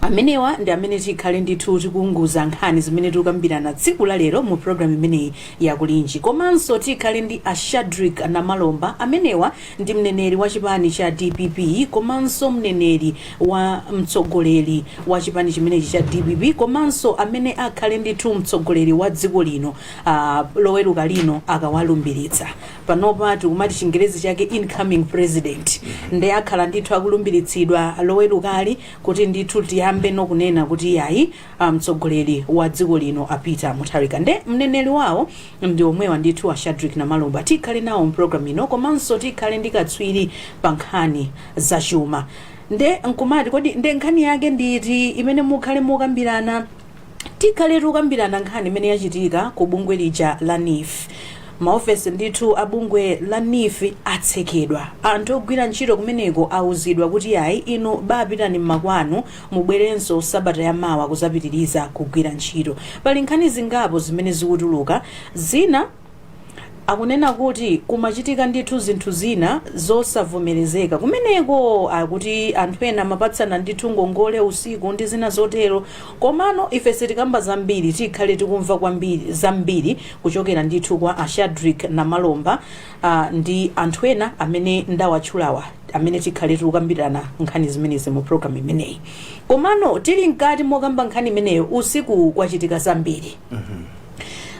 amenewa ndi amene tikhale ndithu tikuunguza nkhani zimene tikukambirana tsiku la lero mu programu imeneyi ya kulinji komanso tikhale ndi a shadrik namalomba amenewa ndi mneneri wa chipani cha dpp komanso mneneri wa mtsogoleri wa chipani chimenechi cha dpp komanso amene akhale ndithu mtsogoleri wa dziko lino uh, loweruka lino akawalumbiritsa Panopa tikumati chingerezi chake incoming president nde akhala ndithu akulumbiritsidwa lowerukali kuti ndithu tiyambeno kunena kuti iyayi mtsogoleri wa dziko lino a Peter Mutharika nde mneneri wawo ndi omwewa ndithu a Shadric Namalomba tikhale nawo mu program ino komanso tikhale ndi katswiri pa nkhani za chuma nde nkumati kodi nde nkhani yake ndi iti imene mukhale mukambirana Tikhale tikukambirana nkhani imene yachitika ku bungwe lija la NEEF. Maofesi ndithu a bungwe la NEEF atsekedwa. Anthu ogwira ntchito kumeneko auzidwa kuti yayi inu bapitani mmakwanu mubwerenso sabata ya mawa kuzapitiliza kugwira ntchito. Pali nkhani zingapo zimene zikutuluka. Zina. akunena kuti kumachitika ndithu zinthu zina zosavomerezeka kumeneko akuti anthu ena amapatsana ndithu ngongole usiku ndi zina zotero komano ife sitikamba zambiri tikhale tikumva kwambiri zambiri kuchokera ndithu kwa a shadrick namalomba uh, ndi anthu ena amene ndawatchulawa amene tikhale tikukambirana nkhani zimenezi mu programu imeneyi komano tili mkati mokamba nkhani imeneyo usiku kwachitika zambiri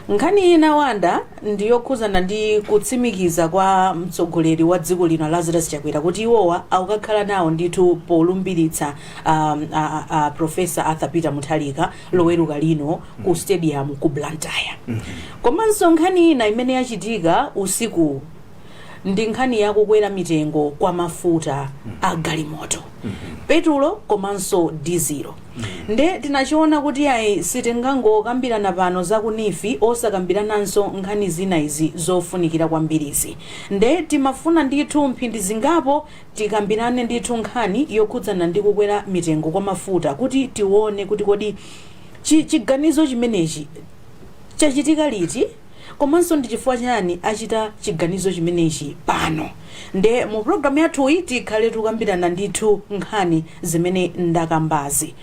Nkhani ina Wanda ndi yokhuzana ndi kutsimikiza kwa mtsogoleri wa dziko lino a Lazarus Chakwera kuti iwowa akukakhala nawo ndithu polumbilitsa um, a, a, a Professor Arthur Peter Mutharika loweruka lino ku stadium ku Blantyre. Komanso nkhani ina imene yachitika usiku ndi nkhani yakukwera mitengo kwa mafuta a galimoto petulo komanso dizilo Nde tinachiona kuti ayi sitingangokambirana pano za ku neef osakambirananso nkhani zina izi zofunikira kwambirizi. Nde timafuna ndithu mphindi zingapo tikambirane ndithu nkhani yokhudzana ndi kukwera mitengo kwa mafuta kuti tione kuti kodi chi chiganizo chimenechi chachitika liti? komanso ndi chifukwa chani achita chiganizo chimenechi pano nde mu program yathuyi tikhale tikukambirana ndithu nkhani zimene ndakambazi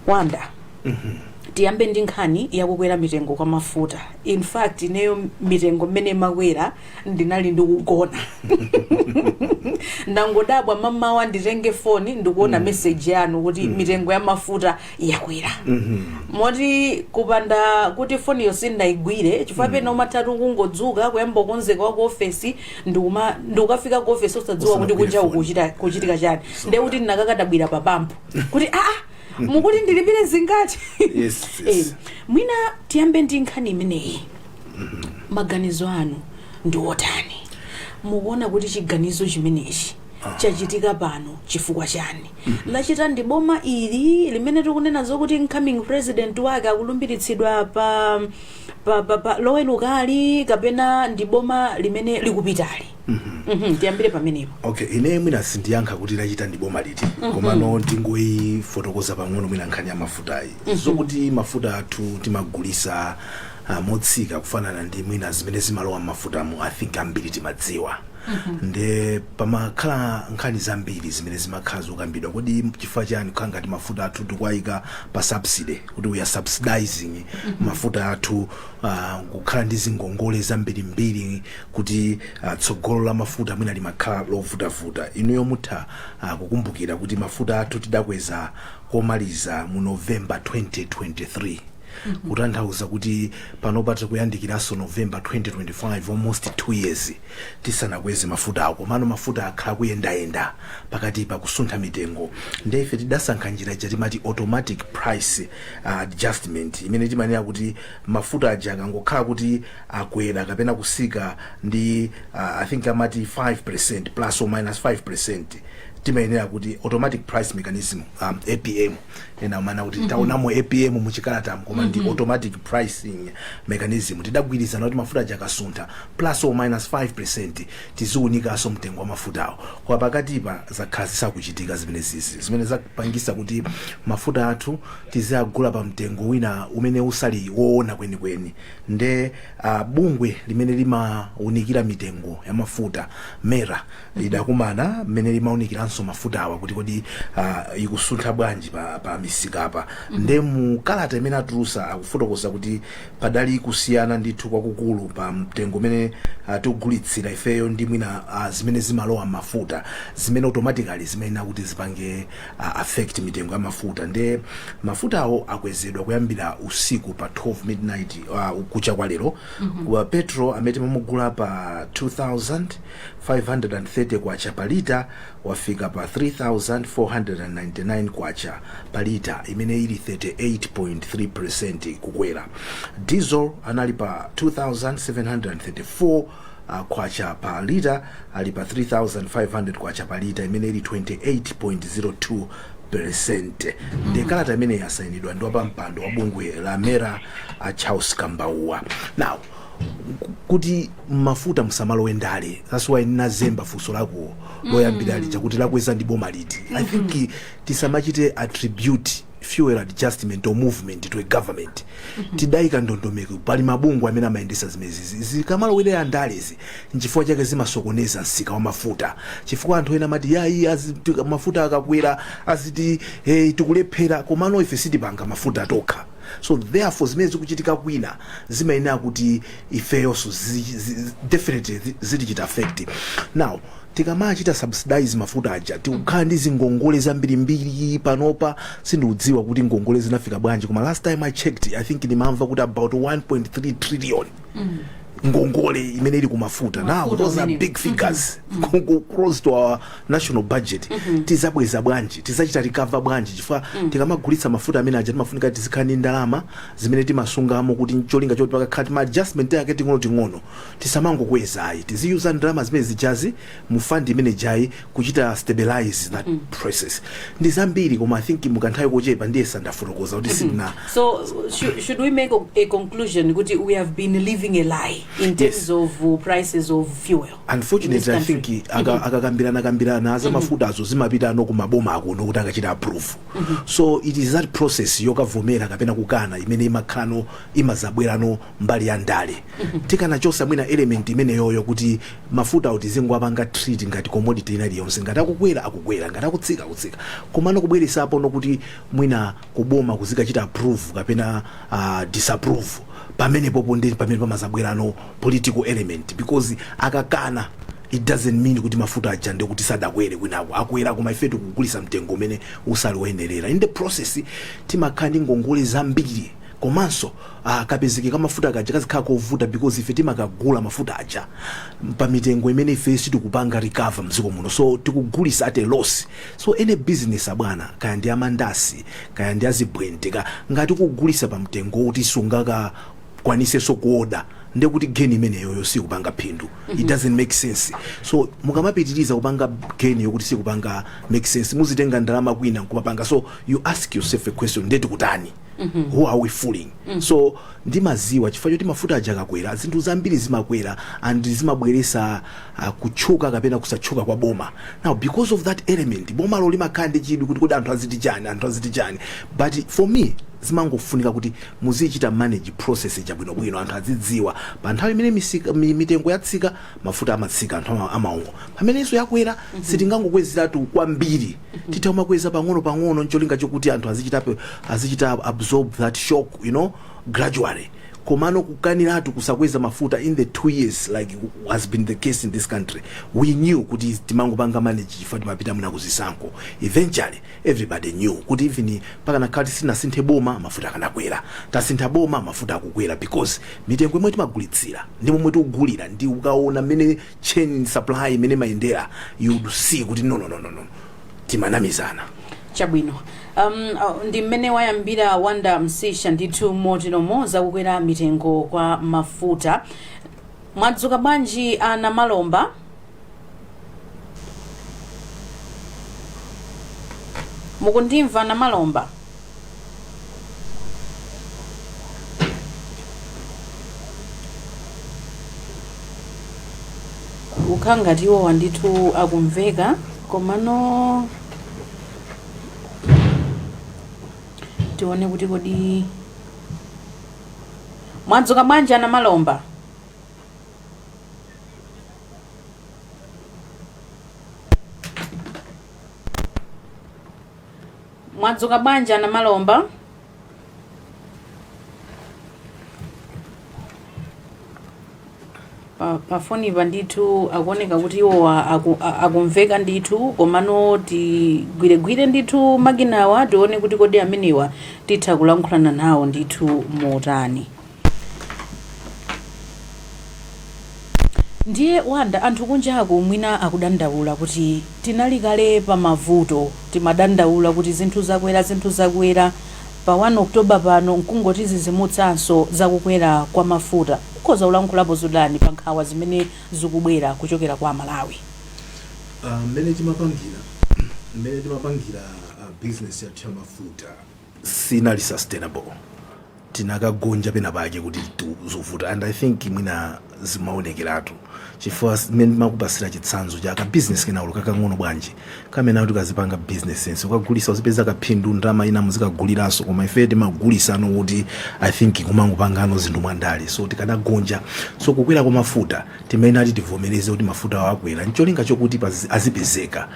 wanda tiyambe ndi nkhani yakukwera mitengo kwa mafuta in fact ineyo mitengo mmene imakwera ndinali ndikugona ndangodabwa mamawa nditenge foni ndikuona meseji yanu kuti mitengo ya mafuta yakwera moti kupanda kuti foniyo sindinayigwire chifukwa pena umatha kungodzuka kuyamba kukonzeka wa ku ofesi ndikukafika ku ofesi osadziwa kuti kunja kukuchitika chani ndiye kuti ndinakakadabwira pa pampu kuti aa mukuti ndilipire zingati Yes, yes. Eh, mwina tiyambe ndi nkhani imeneyi maganizo anu ndi otani mukuona kuti chiganizo chimenechi chachitika pano chifukwa chani lachita ndi boma ili limene tikunena zokuti incoming president wake akulumbiritsidwa pa, pa, pa, pa lowerukali kapena ndi boma limene likupitali Mhm, tiyambire pamenepo okay ine mwina sindiyankha kuti lachita ndi boma liti komano ndingoyifotokoza pang'ono mwina nkhani ya mafutayi zokuti mafuta athu timagulisa ah, motsika kufanana ndi mwina zimene zimalowa m'mafutamu i think ambiri timadziwa nde pamakhala nkhani zambiri zimene zimakhala zokambidwa kodi chifukwa chani kukhala ngati mafuta athu tikuwayika pa subsidy kuti we are subsidizing mafuta athu ah, kukhala ndi zingongole zambirimbiri kuti ah, tsogolo la mafuta mwina limakhala lovutavuta inuyo mutha ah, kukumbukira kuti mafuta athu tidakweza komaliza mu november 2023 kutanthauza kuti panopa tikuyandikiranso november 2025 almost 2 years tisanakweze mafutawo komano mafuta akhala kuyendayenda pakati pa kusuntha mitengo nde ife tidasankha njira ija timati automatic price uh, adjustment imene timayenera kuti mafuta aja akangokhala kuti akwera kapena kutsika ndi uh, i think amati 5 percent plus or minus 5 percent timayenera kuti automatic price mechanism um, apm ena amanena kuti taonamo apm muchikalatamu koma ndi automatic pricing mechanism tidagwirizana kuti mafuta aja akasuntha plus or minus 5 percent tiziunikaso mtengo wa mafutawo koma pakatipa zakhala zisakuchitika zimene zizi zimene zapangisa kuti mafuta athu tiziagula pa mtengo wina umene usali woona kwenikweni nde uh, bungwe limene limaunikira mitengo ya mafuta mera lidakumana limene limaunikiranso mafutawa kuti kodi ah, ikusuntha bwanji pa, pa misikapa nde mu kalata imene atulusa akufotokoza kuti padali kusiyana ndithu kwakukulu pa mtengo umene ah, tikugulitsira ifeyo ndi mwina ah, zimene zimalowa m'mafuta zimene automatically zimene akuti zipange ah, affect mitengo ya mafuta nde mafutawo akwezedwa kuyambira usiku pa 12 midnight ah, kucha kwa lero Wa petrol amene timamugula pa 2000 K530 pa lita wafika pa K3,499 pa lita, imene ili 38.3 peresenti kukwera. Diesel anali pa K2,734 pa lita ali pa K3,500 pa lita, imene ili 28.02 peresenti. Ndiye kalata imeneyi yasainidwa ndi wapampando wa bungwe la MERA a Charles Kambauwa. Now, kuti mmafuta musamalowe ndale that's why nazemba funso lako loyambira lija kuti lakweza ndi boma liti i think tisamachite attribute fuel adjustment or movement to a government tidayika ndondomeko pali mabungwe amene amayendesa zimenezi zikamalowerera ndalezi nchifukwa chake zimasokoneza msika wa mafuta chifukwa anthu ena amati yayi azi- tika- mafuta akakwera aziti hey, tikulephera komano ife sitipanga mafuta tokha So therefore zimene zikuchitika kwina zimayenera kuti ifeyonso zi- zi- zi- definitely zi- zitichita affect now tikamachita subsidize mafuta aja tikukhala ndi zingongole zambirimbiri panopa sindikudziwa kuti ngongole zinafika bwanji koma last time i checked i think ndimamva kuti about 1.3 trillion ngongole imene ili kumafuta now Mafuta those are amene. big figures Ngongo close to our national budget tizabweza bwanji tizachita recover bwanji chifukwa tikamagulitsa mafuta amene aja timafunika tizikhala ndi ndalama zimene timasungamo kuti cholinga choti pakakhala tima adjustment yake ting'ono ting'ono tisamangokweza ayi tiziyuza ndalama zimene zijazi mu fund imene ijayi kuchita stabilize that process ndi zambiri koma i think mukanthawi kochepa ndiye sandafotokoza kuti sindina So should, should we make a conclusion kuti we have been living a lie in terms Yes. of uh, prices of fuel? in this unfortunately i country? think aka- akakambirana kambirana za mafutazo zimapitano kumaboma akuno kuti akachita approve so it is that process yokavomera kapena kukana imene imakhalano imazabwerano mbali ya ndale tikanachosa mwina element imeneyoyo kuti mafutawo tizingowapanga treat ngati commodity ina iliyonse ngati akukwera akukwera ngati akutsika akutsika komano kubweresapono kuti mwina kuboma kuzikachita approve kapena uh, disapprove pamene popo ndi pamene pamazabwerano political element because akakana it doesn't mean kuti mafuta aja ndi kuti sadakwere kwinako akwera koma ife tikugulisa mtengo umene usali woyenerera in the process timakhala ndi ngongole zambiri komanso Ah, kapezeke ka mafuta kaja kazikhala kovuta because ife timakagula mafuta aja pa mitengo imene ife sitikupanga recover mdziko muno so tikugulisa at a loss so any business abwana kaya ndi amandasi kaya ndi azibwente ka ngati ukugulisa pa mtengo woti sungakakwaniseso kuoda ndekuti geni imeneyoyo sikupanga phindu it doesn't make sense so mukamapitiriza kupanga geni yokuti sikupanga make sense muzitenga ndalama kwina nkumapanga so you ask yourself a question nde tikutani who are we fooling so timaziwa chifukwa choti mafuta aja akakwera zinthu zambiri zimakwera and zimabweresa uh, kutchuka kapena kusatchuka kwa boma now because of that element bomalo limakhala ndi chidwi kuti kodi anthu aziti chani anthu aziti chani but for me zimangofunika kuti muzichita manage process ija bwinobwino anthu azidziwa pa nthawi imene misika- mi- mitengo yatsika mafuta amatsika anthu ama- amaongo pamenenso yakwera sitingangokwezeratu kwambiri titha kumakweza pang'ono pang'ono ncholinga chokuti anthu azichita pe- azichita absorb that shock you know gradually komano kukaniratu kusakweza mafuta in the two years like has been the case in this country we knew kuti timangopanga manage chifukwa timapita mna kuzisankho eventually everybody knew kuti even pakanakhala tisinasinthe boma mafuta akanakwera tasintha boma mafuta akukwera because mitengo yomwe timagulitsira ndi momwe tikugulira ndi ukaona mmene chain supply imene imayendera you would see kuti no no no no no timanamizana chabwino um, uh, ndi mmene wayambira wanda msisha ndithu moteromo zakukwera mitengo kwa mafuta mwadzuka bwanji anamalomba mukundimva anamalomba ukhala ngati iwowa ndithu akumveka komano tione kuti kodi mwadzuka bwanji anamalomba mwadzuka bwanji anamalomba pa- pafonipa ndithu akuoneka kuti iwo a- aku- a- akumveka ndithu komano tigwiregwire ndithu makinawa tione kuti kodi amenewa titha kulankhulana nawo ndithu motani Ndiye Wanda anthu kunjaku mwina akudandaula kuti tinali kale pa mavuto, timadandaula kuti zinthu zakwera zinthu zakwera, pa 1 October pano nkungotidzidzimutsanso za kukwera kwa mafuta. Ukhoza kulankhulapo zotani pa nkhawa zimene zikubwera kuchokera kwa Amalawi? Mmene timapangira mmene timapangira business yathu ya mafuta sinali sustainable. tikanagonja pena pake kuti tu- zovuta and i think mwina zimaonekeratu chifukwa mmene ndimakupasira chitsanzo cha ka business kenaulo kakang'ono bwanji kamene kakuti kazipanga business sense ukagulisa uzipeza kaphindu ndalama ina muzikaguliranso koma ife timagulisano kuti i think kumangopangano zinthu mwandale so tikanagonja so kukwera kwa mafuta timayenera kuti tivomereze kuti mafutawo akwera ncholinga chokuti pazi- azipezeka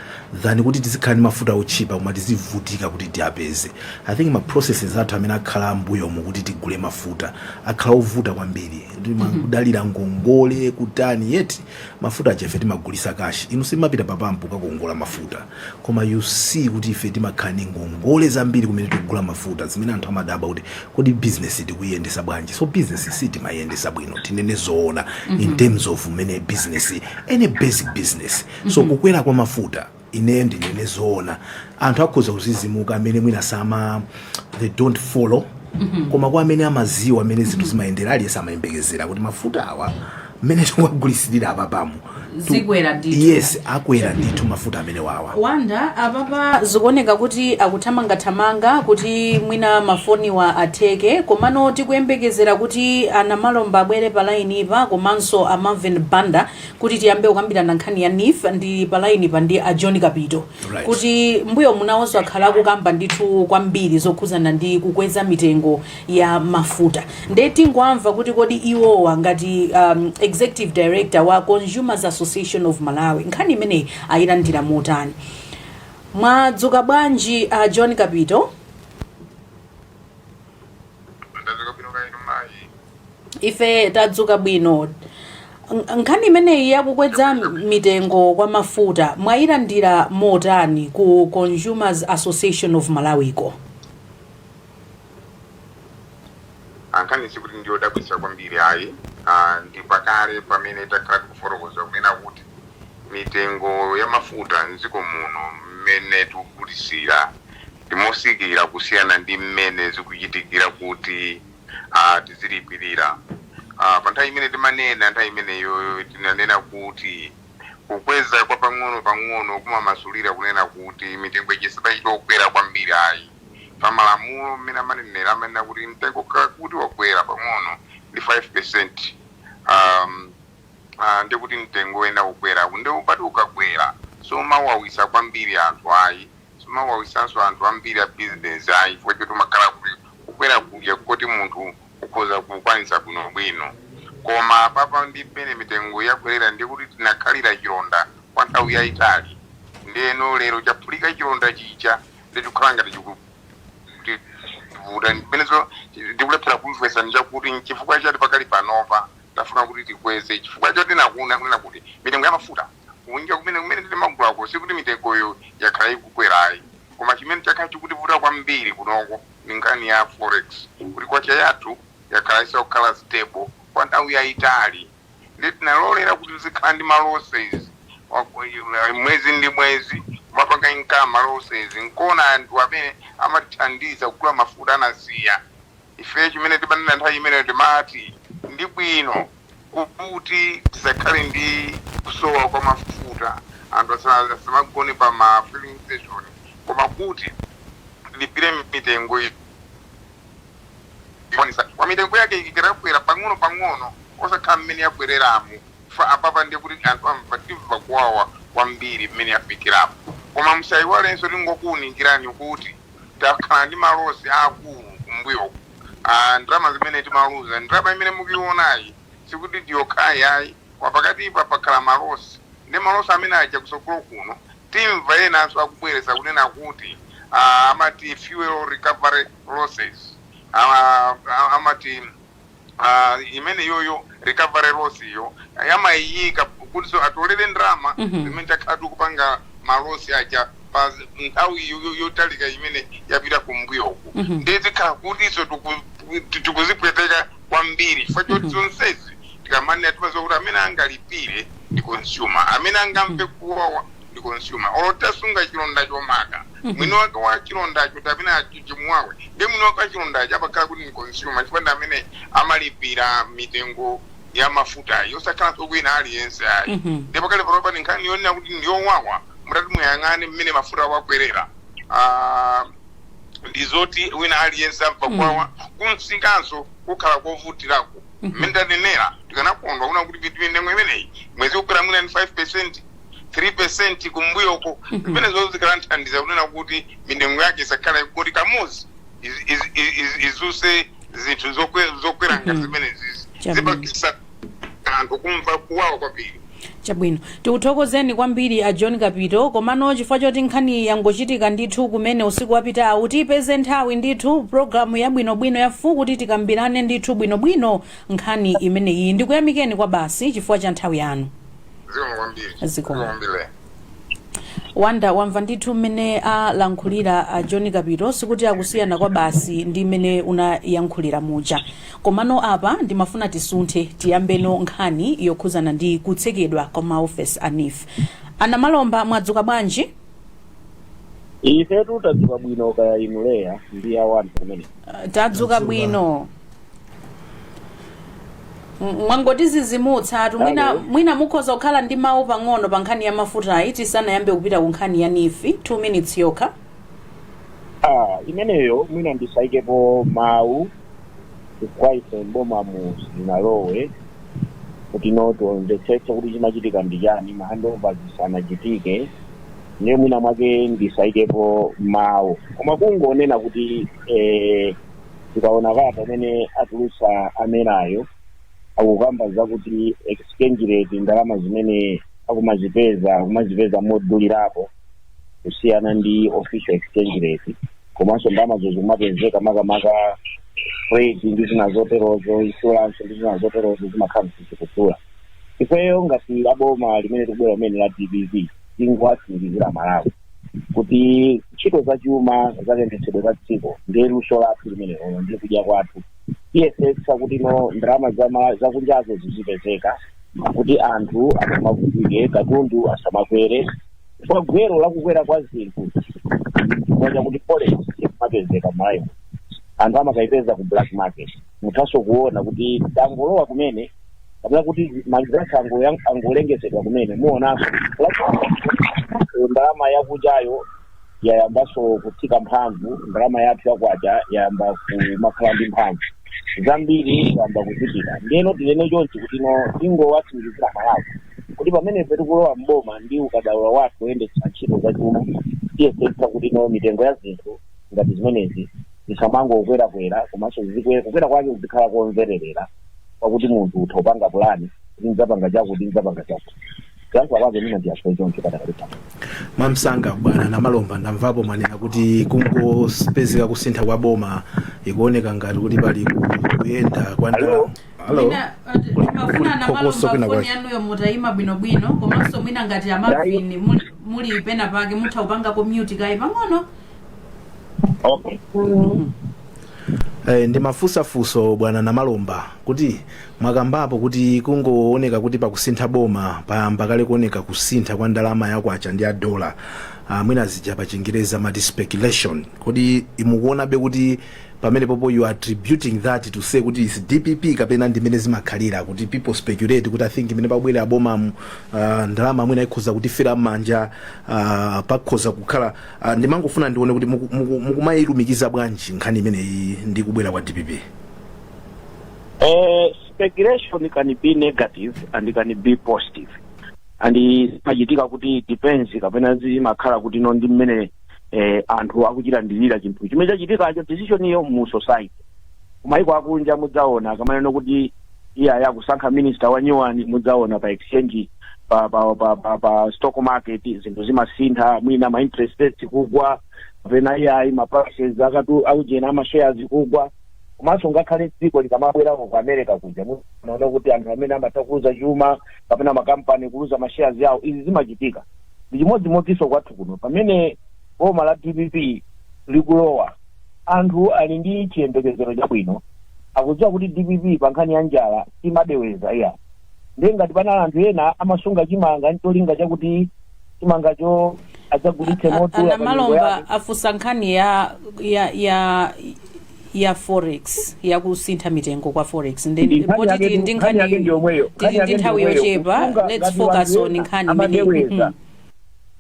than kuti tizikhala ndi mafuta otchipa koma tizivutika kuti tiapeze i think ma processes athu amene akhala m'mbuyomu kuti tigule mafuta akhala ovuta kwambiri timangodalira ngongole kutani yet mafuta aja ife timagulisa kashi inu simapita papampu kukakongola mafuta koma you see kuti ife timakhala ndi ngongole zambiri kumene tikugula mafuta zimene anthu amadabwa kuti kodi business tikuyendesa bwanji so business sitimayendesa bwino tinene zoona in terms of mmene business any basic business so kukwera kwa mafuta ineyo ndinene zoona anthu akhoza kudzidzimuka amene mwina sama they don't follow koma kwa amene amadziwa mmene zinthu zimayendera aliyense amayembekezera kuti mafuta awa mmene tikuwagulitsira apa pompano akwera ndithu. yes akwera ndithu mafuta amene Wawa Wanda apapa zikuoneka kuti akuthamangathamanga kuti mwina mafoniwa atheke komano tikuyembekezera kuti a Namalomba abwere pa lainipa komanso a Marvin Banda kuti tiyambe kukambirana nkhani ya NEEF ndi palainipa ndi a John Kapito Right. kuti mbuyomu nawonso akhala akukamba ndithu kwambiri zokhudzana ndi kukweza mitengo ya mafuta nde tingomva kuti kodi iwowa ngati um, executive director wa consumers association of malawi nkhani imeneyi ayilandira motani mwadzuka bwanji a John Kapito ife tadzuka bwino nkhani imeneyi yakukweza mitengo kwa mafuta mwayilandira motani ku consumers association of malawi ko ah nkhani sikuti ndi yodabwitsa kwambiri ayi ah, ndi pakale pamene takhala tikufotokoza kunena kuti mitengo ya mafuta mdziko muno mmene tikugulitsira ndi motsikira kusiyana ndi mmene zikuchitikira kuti a, tizilipirira. A, pa nthawi imene timanena, nthawi imeneyo tinanena kuti kukweza kwa pang'ono pang'ono kumamasulira kunena kuti mitengo ija siimachita kukwera kwambiri ayi. Pa malamulo mmene amanenera amanena kuti mtengo kuti wakwera pang'ono ndi 5%, a, a, ndiye kuti mtengo uyenera kukwera. Ndiye umati ukakwera, siumawawitsa kwambiri anthu ayi. Siumawawitsanso anthu ambiri a business ayi chifukwa choti umakhala kuti kukwera kuja nkoti munthu ukhoza kukwanitsa bwinobwino koma apapa ndi mmene mitengo yakwelera ndiye kuti tinakhalira chilonda kwa nthawi yaitali ndeno lero chaphulika chilonda chija nde chikukhala ngati chikutivuta ndi pomwenso ndikulephera kumvesa nchakuti nchifukwa chati pakali panopa tafuna kuti tikweze chifukwa choti kunena kuti mitengo ya mafuta Kunja kumene kumene timagulako sikuti mitengoyo yakhala ikukwera ayi. Koma chimene chakhala chikutivuta kwambiri kunoko ndi nkhani ya forex, kuti kwacha yathu yakhala isakukhala stable kwa nthawi yaitali. Ndiye tinalolera kuti tizikhala ndi ma losses mwezi ndi mwezi, kumapanga incur ma losses nkona anthu amene amatithandiza kugula mafuta anasiya. Ifeyo chimene timanena nthawi imeneyo timati, ndi bwino. Kuti tisakhale ndi kusowa kwa mafuta, anthu asamagone pa ma filling station koma kuti tilipire mitengo. Koma mitengo yake ikanakwera pang'ono pang'ono osakhala mmene yakwereramu apapa ndiye kuti anthu amva timva kuwawa kwambiri mmene yafikiramu. Koma musaiwalenso tingokuunikirani kuti. Takhala ndi ma loss aakulu kumbuyoku a ndalama zimene timaluza. Ndalama imene mukuionayi sikuti ndi yokhayi ayi. Pakatipa pakhala ma loss nde ma loss amene aja kusogolo kuno timva enanso akubweresa kunena kuti amati fuel recovery losses amati. uh, imeneyoyo recovery loss iyo amayiyika kutiso atolere ndalama Mhm. zimene takhala tikupanga malosi aja pa nthawi yo- yo- yotalika imene yapita kumbuyoku Mhm. ndiye zikhala kutiso tiku- ti- tikuzipweteka kwambiri chifukwa choti zonsezi tikamanena timaziwa kuti amene angalipire ndi consumer amene angamve kuwawa ndi consumer olo tasunga chilonda chomaka mwini wake wa chilondacho ndi amene achu- chimuwawe ndi mwini wake wa chilondacho amakhala kuti ndi consumer chifukwa ndi amene amalipira mitengo ya mafutayo osakhalanso wina aliyense ayi Mhm. ndiye pakalipanopa ndi nkhani yonena kuti ndi yowawa mutati muyang'ane mmene mafuta wakwerera Ah, ndi zoti wina aliyense amva kwawa kumsikanso kukhala kovutirako mmene tanenera tikanakondwa kuna kuti mitu mitengo imeneyi mwezi kukwera mwina ndi 5 percent 3 percent kumbuyoko zimenezo zikanathandiza kunena kuti mitengo yake isakhala kuti kamodzi iz- iz- iz- iz- izuse zinthu zokwe- zokwera ngati Mhm. zimenezi Chabwino. zipakisa anthu kumva kuwawa kwambiri chabwino tikuthokozeni kwambiri a john kapito komano chifukwa choti nkhani yangochitika ndithu kumene usiku wapitawu tipeze nthawi ndithu programu yabwinobwino ya full kuti tikambirane ndithu bwinobwino nkhani imeneyi ndikuyamikeni kwa basi chifukwa cha nthawi yanu zikomo Wonder wamva ndithu mmene alankhulira a john kapito sikuti akusiyana kwa basi ndi mmene unayankhulira muja komano apa ndimafuna tisunthe tiyambeno nkhani yokhuzana ndi kutsekedwa kwa maofesi a neef anamalomba mwadzuka bwanji ifetu tadzuka bwino kaya inu Leya ndi awanthu kumene Ah, tadzuka bwino M- mwangotizizimutsatu mwina, Alo. mwina mukhoza kukhala ndi mawu pang'ono pa nkhani ya mafutayi tisanayambe kupita ku nkhani ya nifi 2 minutes yokha ah imeneyo mwina ndisaikepo mawu kwa ife m'bomamu sitinalowe kuti no tionetsetse kuti chimachitika ndi chani mahandova zisanachitike ndiye mwina mwake ndisaikepo mawu koma kungonena kuti eh, tikaona kalata imene atulutsa a MERA-yo akukamba zakuti exchange rate ndalama zimene akumazipeza akumazipeza modulirapo kusiyana ndi official exchange rate komanso ndalamazo zikumapezeka makamaka freight ndi zina zoterozo insurance ndi zina zoterozo zimakhala zikuchula ifeyo ngati aboma limene tikubwera limene la dpp tingowatsimikizira amalawi kuti ntchito za chuma za kayendetsedwe ka dziko ndi luso lathu limenelo ndi kudya kwathu tiyesetsa kuti no ndalama zama- zakunjazo zizipezeka kuti anthu asamavutike katundu asamakwere kwa gwero la kukwera kwa zinthu chifukwa chakuti forex imapezeka malawi anthu amakayipeza ku black market muthanso kuona kuti tangolowa kumene kapena kuti ma results angolengezedwa kumene muonanso ndalama yakunjayo yayambanso kutsika mphamvu ndalama yathu yakwacha yayamba kumakhala ndi mphamvu zambiri zayamba kuchitika ndiyeno tinene chonchi kuti no tingowatsimikizira amalawi kuti pamene ife tikulowa mboma ndi ukadaulo wathu woyendetsa ntchito zachuma tiyesetsa kuti no mitengo ya zinthu ngati zimenezi zisamangokwerakwera komanso zikwe- kukwera kwake kuzikhala komvererera kwakuti munthu utha kupanga pulani kuti ndidzapanga chakuti ndidzapanga chakuti kuyankhula kwake mwina ndiyankhe choncho padakali pano mwamsanga bwana namalomba ndamvapo mwanena kuti kungopezeka kusintha kwa boma ikuoneka ngati kuti pali ku- kuyenda kwa ndalama Hello? halo Mwina, ati- Kuli- mafuna kuli na phokoso namalomba kwina foni kwake. yanuyo mutayima bwinobwino komanso mwina ngati a Marvin muli- muli pena pake mutha kupangako mute kaye pang'ono okay Eh, ndimafunsa funso bwana namalomba kuti Mwakambapo kuti kungooneka kuti pakusintha boma payamba kale kuoneka kusintha kwa ndalama ya kwacha ndi ya dollar uh, mwina zija pa chingereza amati speculation kodi inu mukuonabe kuti pamenepopo you are attributing that to say kuti is dpp kapena ndimene zimakhalira kuti people speculate kuti i think mmene pabwera bomamu uh, ndalama mwina ikhoza kutifera m'manja uh, pakhoza kukhala uh, ndimangofuna ndione kuti muku- muku- mukumayilumikiza bwanji nkhani imeneyi ndi kubwera kwa dpp Eh, speculation can be negative and can be positive and zimachitika kuti depends kapena zimakhala kuti no ndi mmene eh, anthu akuchilandirira chinthu chimene chachitikacho decision iyo mu society kumayiko akunja mudzaona akamanena kuti iyayi akusankha minister wa nyuwani mudzaona pa exchange pa pa pa, pa, pa stock market zinthu zimasintha mwina ma interest rates kugwa kapena iyayi ma prices akatu akujena ama shares kugwa komanso ngakhale dziko likamabwerako ku america kuja munaona kuti anthu amene amatha kuluza chuma kapena makampani kuluza mashares yawo izi zimachitika ndi chimodzimodzinso kwathu kuno pamene boma la dpp likulowa anthu ali ndi chiyembekezero chabwino akudziwa kuti dpp pa nkhani ya njala imadeweza iya ndiye ngati panali anthu ena amasunga chimanga ncholinga chakuti chimangacho adzagulitse modula a namalomba afunsa nkhani ya ya ya ya forex ya kusintha mitengo kwa forex Ndi nkhani yake ndi yomweyo. poti tili ndi nthawi yochepa let's focus on nkhani imene Mhm.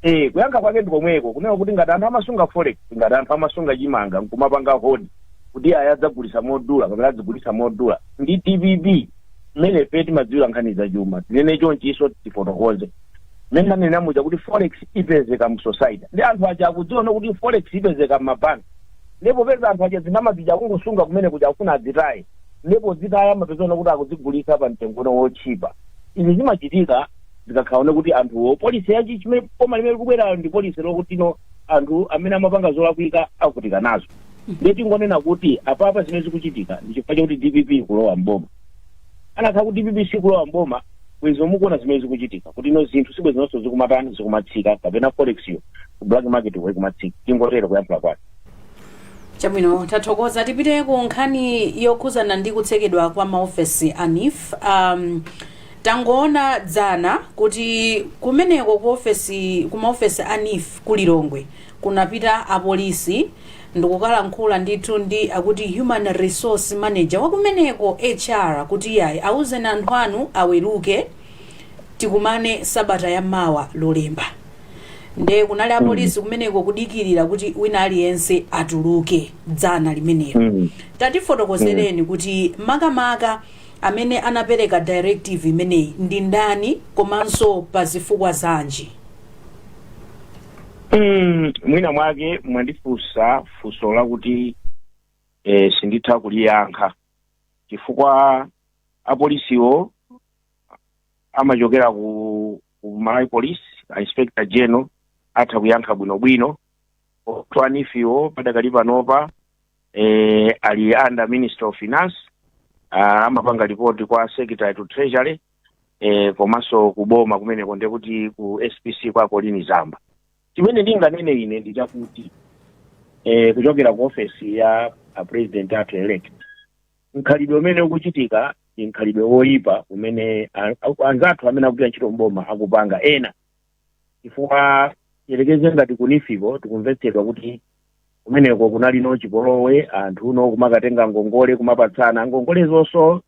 Eh, kuyankha kwake ndi komweko kunena kuti ngati anthu amasunga forex ngati anthu amasunga chimanga nkumapanga hoard kuti ayi adzagulitsa modula kapena adzigulitsa modula ndi dpp mmene ife timadziwira nkhani za chuma tinene chonchiso tifotokoze mmene ndanena muja kuti forex ipezeka mu society ndi anthu aja akudziwa kuti forex ipezeka m'mabanki nde popeza anthu aja ndalama zija kungosunga kumene kuja akufuna adzitaye nde pozitaya amapezano kuti akuzigulitsa pa mtengono wotchipa izi zimachitika zikakhala no kuti anthuwo policy ya chi chimene boma limene likubwerayo ndi policy yokutino anthu amene amapanga zolakwika avutika nazo ndiye tingonena kuti apapa zimene zikuchitika ndi chifukwa chakuti dpp ikulowa mboma akanakhala kuti dpp sikulowa mboma bwenzi mukuona zimene zikuchitika kuti ino zinthu sibwenzinso zikumatani zikumatsika kapena forex yo ku black market yo ikumatsika tingotero kuyankhula kwake chabwino tathokoza tipite ku nkhani yokhuzana ndi kutsekedwa kwa maofesi a neef um, tangoona dzana kuti kumeneko ku ofesi ku maofesi a neef ku lilongwe kunapita apolisi ndikukalankhula ndithu ndi akuti human resource manager wakumeneko HR kuti iyayi auzeni anthu anu aweruke tikumane sabata ya mawa lolemba nde kunali apolisi kumeneko kudikirira kuti wina aliyense atuluke dzana limenelo Mm. tatifotokozereni kuti makamaka amene anapereka directive imeneyi ndi ndani komanso pa zifukwa zanji Mm, mwina mwake mwandifunsa funso lakuti eh, sinditha kuliyankha chifukwa apolisiwo amachokera ku, ku malawi police a inspector general atha kuyankha bwinobwino koma a NEEF-wo padakali panopa eh, ali under minister of finance ah, amapanga ripoti kwa secretary to treasury e, komanso kuboma kumeneko ndiye kuti ku spc kwa colleen zamba chimene ndinganene ine ndi chakuti e, kuchokera ku ofesi ya a president athu elect mkhalidwe umene ukuchitika ndi mkhalidwe woyipa umene a- a- anzathu amene akugwira ntchito mboma akupanga ena chifukwa yerekeze ngati ku NEEF-ko tikumvetsedwa kuti kumeneko kunali no chipolowe anthu no kumakatenga ngongole kumapatsana ngongole zonso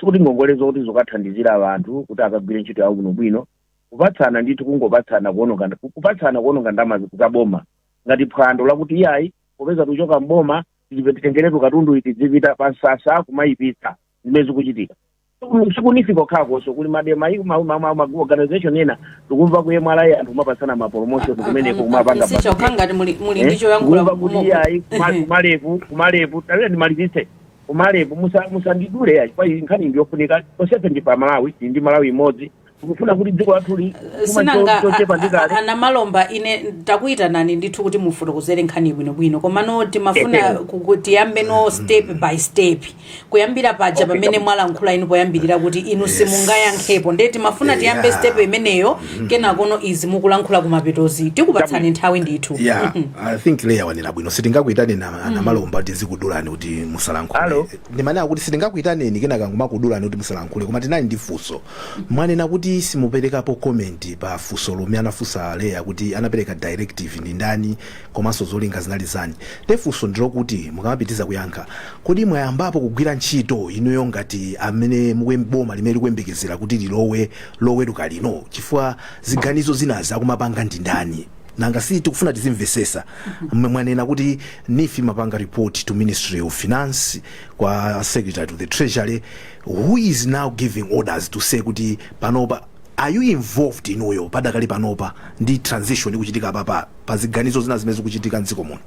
sikuti ngongole zoti zokathandizira anthu kuti akagwire ntchito yawo bwinobwino kupatsana ndithu kungopatsana kuononga kupatsana kuononga ndalama za boma ngati phwando lakuti iyayi popeza tikuchoka mboma tilipe titengeretu katundu tizipita pa msasa kumayipitsa zimene zikuchitika Siku- si ku NEEF kokhakonso kuli ma MDA ayi ma- ma- ma- ma- organization ena tikumva ku mra anthu kumapatsana ma promotion kumeneko kumapanga sicho budget. khangati muli muli Eh, ndicho yankhula kumva kuti iyayi kuma- kumalevu kumalevu tawira ndimalizitse Kumalebo musa musandidule ayi chifukwa iyi nkhani ndi yofunika tonsefe ndife amalawi tili ndi malawi imodzi tikufuna kuti dziko lathuli chuma cho- sinanga a- chochepa ndi a- a- kale a namalomba ine takuyitanani ndithu kuti mufotokozere nkhani bwinobwino komano timafuna Ehe. ku- ku- tiyambe no step by step kuyambira paja Okay, pamene kabisa. mwalankhula inu poyambirira kuti inu simungayankhepo ndiye timafuna tiyambe Yeah. step imeneyo kenakono izi mukulankhula kumapetozi tikupatsani Chabwino. nthawi ndithu yeah i think leya wanena bwino sitingakuitane na a namalomba kuti tizikudulani kuti Alo. musalankhule ndimanena kuti sitingakuitaneni kenaka nkumakudulani kuti musalankhule koma tinali ndi funso mwanena kuti simuperekapo comment pa funso lomwe anafunsa a leya kuti anapereka directive ndi ndani komanso zolinga zinali zani nde funso ndilokuti mukamapitiriza kuyankha kodi mwayambapo kugwira ntchito inuyo ngati amene mukuyem- boma limene likuyembekezera kuti lilowe loweruka lino chifukwa ziganizo zinazi akumapanga ndi ndani nanga si tikufuna tizimvesesa mmwe mwanena kuti NEEF imapanga report to ministry of finance kwa secretary to the treasury who is now giving orders to say kuti panopa are you involved inuyo padakali panopa ndi transition ikuchitika apapa pa ziganizo zina zimene zikuchitika mdziko muno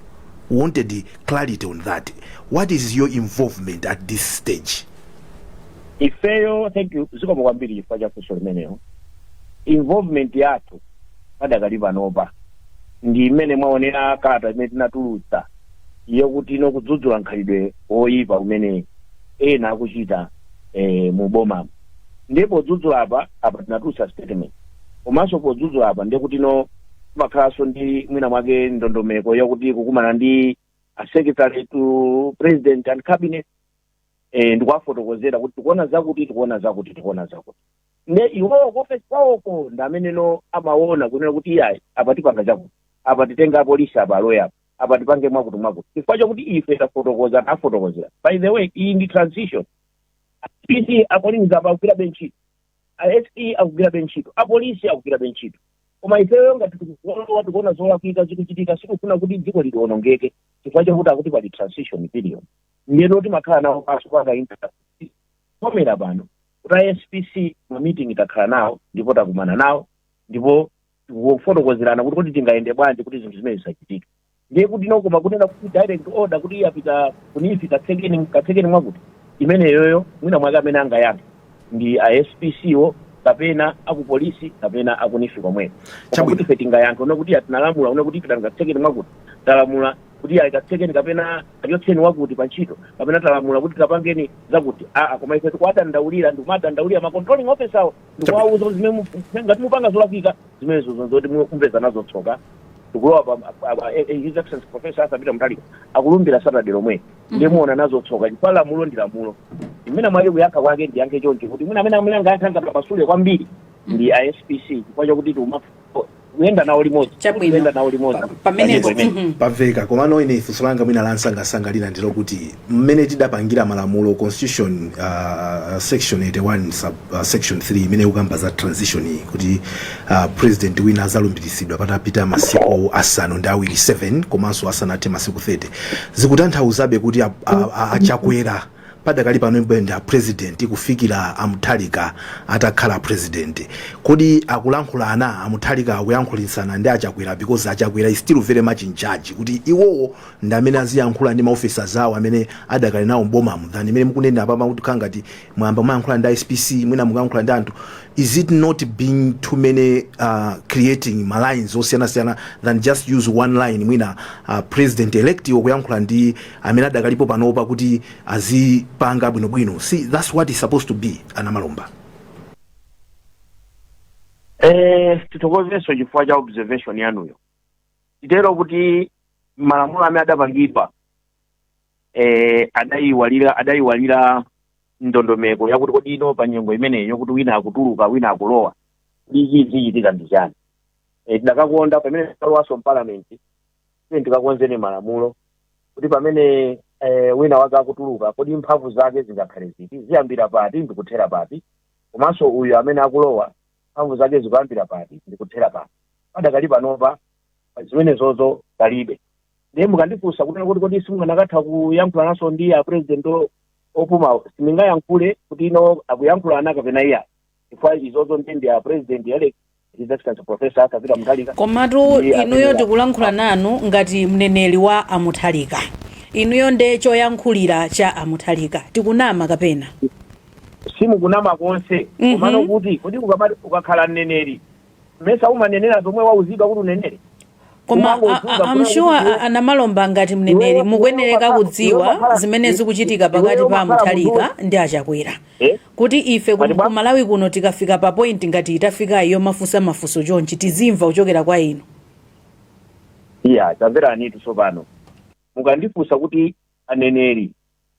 wanted clarity on that what is your involvement at this stage ifeyo thank you zikomo kwambiri chifukwa cha funso limenelo involvement yathu padakali panopa ndi mmene mwaonera kalata imene tinatulutsa yokuti no kudzudzula mkhalidwe woyipa umene ena akuchita eh, mu boma ndiye podzudzula apa apa tinatulutsa statement komanso podzudzula apa ndiye kuti no kumakhalanso ndi mwina mwake ndondomeko yakuti kukumana ndi a secretary to president and cabinet eh, ndikuwafotokozera kuti tikuona zakuti tikuona zakuti tikuona zakuti nde iwowo kuofesi kwawoko ndi amene no amaona kunena kuti iyayi apa tipanga chakuti apa titenga apolisi apa aloya apa apa tipange mwakuti mwakuti chifukwa chakuti ife tafotokoza tafotokozera by the way iyi ndi transition pc apolisi apa akugwirabe ntchito se akugwirabe ntchito apolisi akugwirabe ntchito koma ifeyo ngati tikuona tikuona zolakwika zikuchitika sitikufuna kuti dziko lionongeke chifukwa chakuti akuti pali transition period ndiyeno timakhala nawo panso tingokomera pano kuti a spc ma meeting takhala nawo ndipo takumana nawo ndipo tikufotokozerana kuti kodi tingayende bwanji kuti zinthu zimene zisachitike ndiye kuti no koma kunena kuti direct order kuti yapita ku neef katsekeni katsekeni mwakuti imeneyoyo mwina mwake amene angayankhe ndi a spc wo kapena akupolisi kapena aku neef komweko koma Chabwino. kuti ife tingayankhe kunena kuti aa tinalamula kunena kuti pitani katsekeni mwakuti talamula kuti ayi katsekeni kapena achotseni wakuti pa ntchito kapena talamula kuti tapangeni zakuti aa koma ife tikuwadandaulira ndikumadandaulira ma controlling officer awo ndikuwauza kuti zimene mu- ngati mupanga zolakwika zimenezo ndi zoti mupeza nazo tsoka tikulowa pa pa- pa- eh, eh, his excellency professor arthur peter mutharika akulumbira saturday lomwe ndiye muona nazo tsoka chifukwa lamulo ndi lamulo mmene mwake kuyankha kwake ndiyankhe choncho kuti mwina amene amene angayankha angamasule kwambiri ndi a spc chifukwa chakuti tiuma kuyenda nawo limodzi Chabwino. kuyenda nawo limodzi Pa- pamenepo Pa nyimbo imene. mhm. pamveka komano ine funso langa mwina lansangasanga lina ndi lokuti mmene tidapangira malamulo constitution uh, section 81 sub section 3 imene ikukamba za transition iyi kuti uh, president wina azalumbiritsidwa patapita masiku asanu ndi awiri 7 komanso asanathe masiku 30 zikutanthauzabe kuti a- a- a- achakwera padakali panobe ndi apresident kufikira amutharika atakhala president kodi akulankhulana amutharika akuyankhulitsana ndi achakwera because achakwera is still very much in charge kuti iwowo ndi amene aziyankhula ndi maofficers awo amene adakali nawo mbomamo than mmene mukunena apapa kuti kukhala ngati mwayamba kumayankhula ndi spc mwina mukuyankhula ndi anthu is it not being too many uh, creating malines osiyanasiyana than just use one line mwina uh, president elect iwo kuyankhula ndi amene adakalipo panopa kuti azipanga bwinobwino see that's what is supposed to be anamalomba Eh, tithokozenso chifukwa cha observation yanuyo titero kuti malamulo amene adapangidwa eh, adayiwalira adayiwalira ndondomeko yakuti kodi ino pa nyengo imeneyo kuti wina akutuluka wina akulowa kodi zichitika ndi chani eh, tidakakonda pamene tikalowaso mpalamenti tiyeni tikakonzeni malamulo kuti pamene eh, wina wake akutuluka kodi mphamvu zake zingakhale ziti ziyambira pati ndikuthera pati komanso uyu amene akulowa mphamvu zake zikuyambira pati ndikuthera pati padakali panopa zimenezozo palibe ndiye mukandifunsa kunena kuti kodi simunganakathe kuyankhulananso ndi a president o- opumawo sindingayankhule kuti ino akuyankhulana kapena iyayi chifukwa izozo ndi ndi a president elect his excellency professor arthur peter mutharika komatu ndi inuyo amene- tikulankhula nanu ngati mneneri wa amutharika inuyo nde choyankhulira cha amutharika tikunama kapena simukunama konse Mhm. komano kuti kodi ukamati ukakhala mneneri mesa umanenera zomwe wauzidwa kuti unenere koma am sure anamalomba ngati mneneri mukuyenereka kudziwa zimene zikuchitika pakati pa amutharika ndi achakwera Eh? kuti ife ku- ku malawi kuno tikafika pa point ngati itafikayi yomafunsa mafunso chonchi tizimva kuchokera kwa inu iya tamveranitu tsopano mukandifunsa kuti aneneri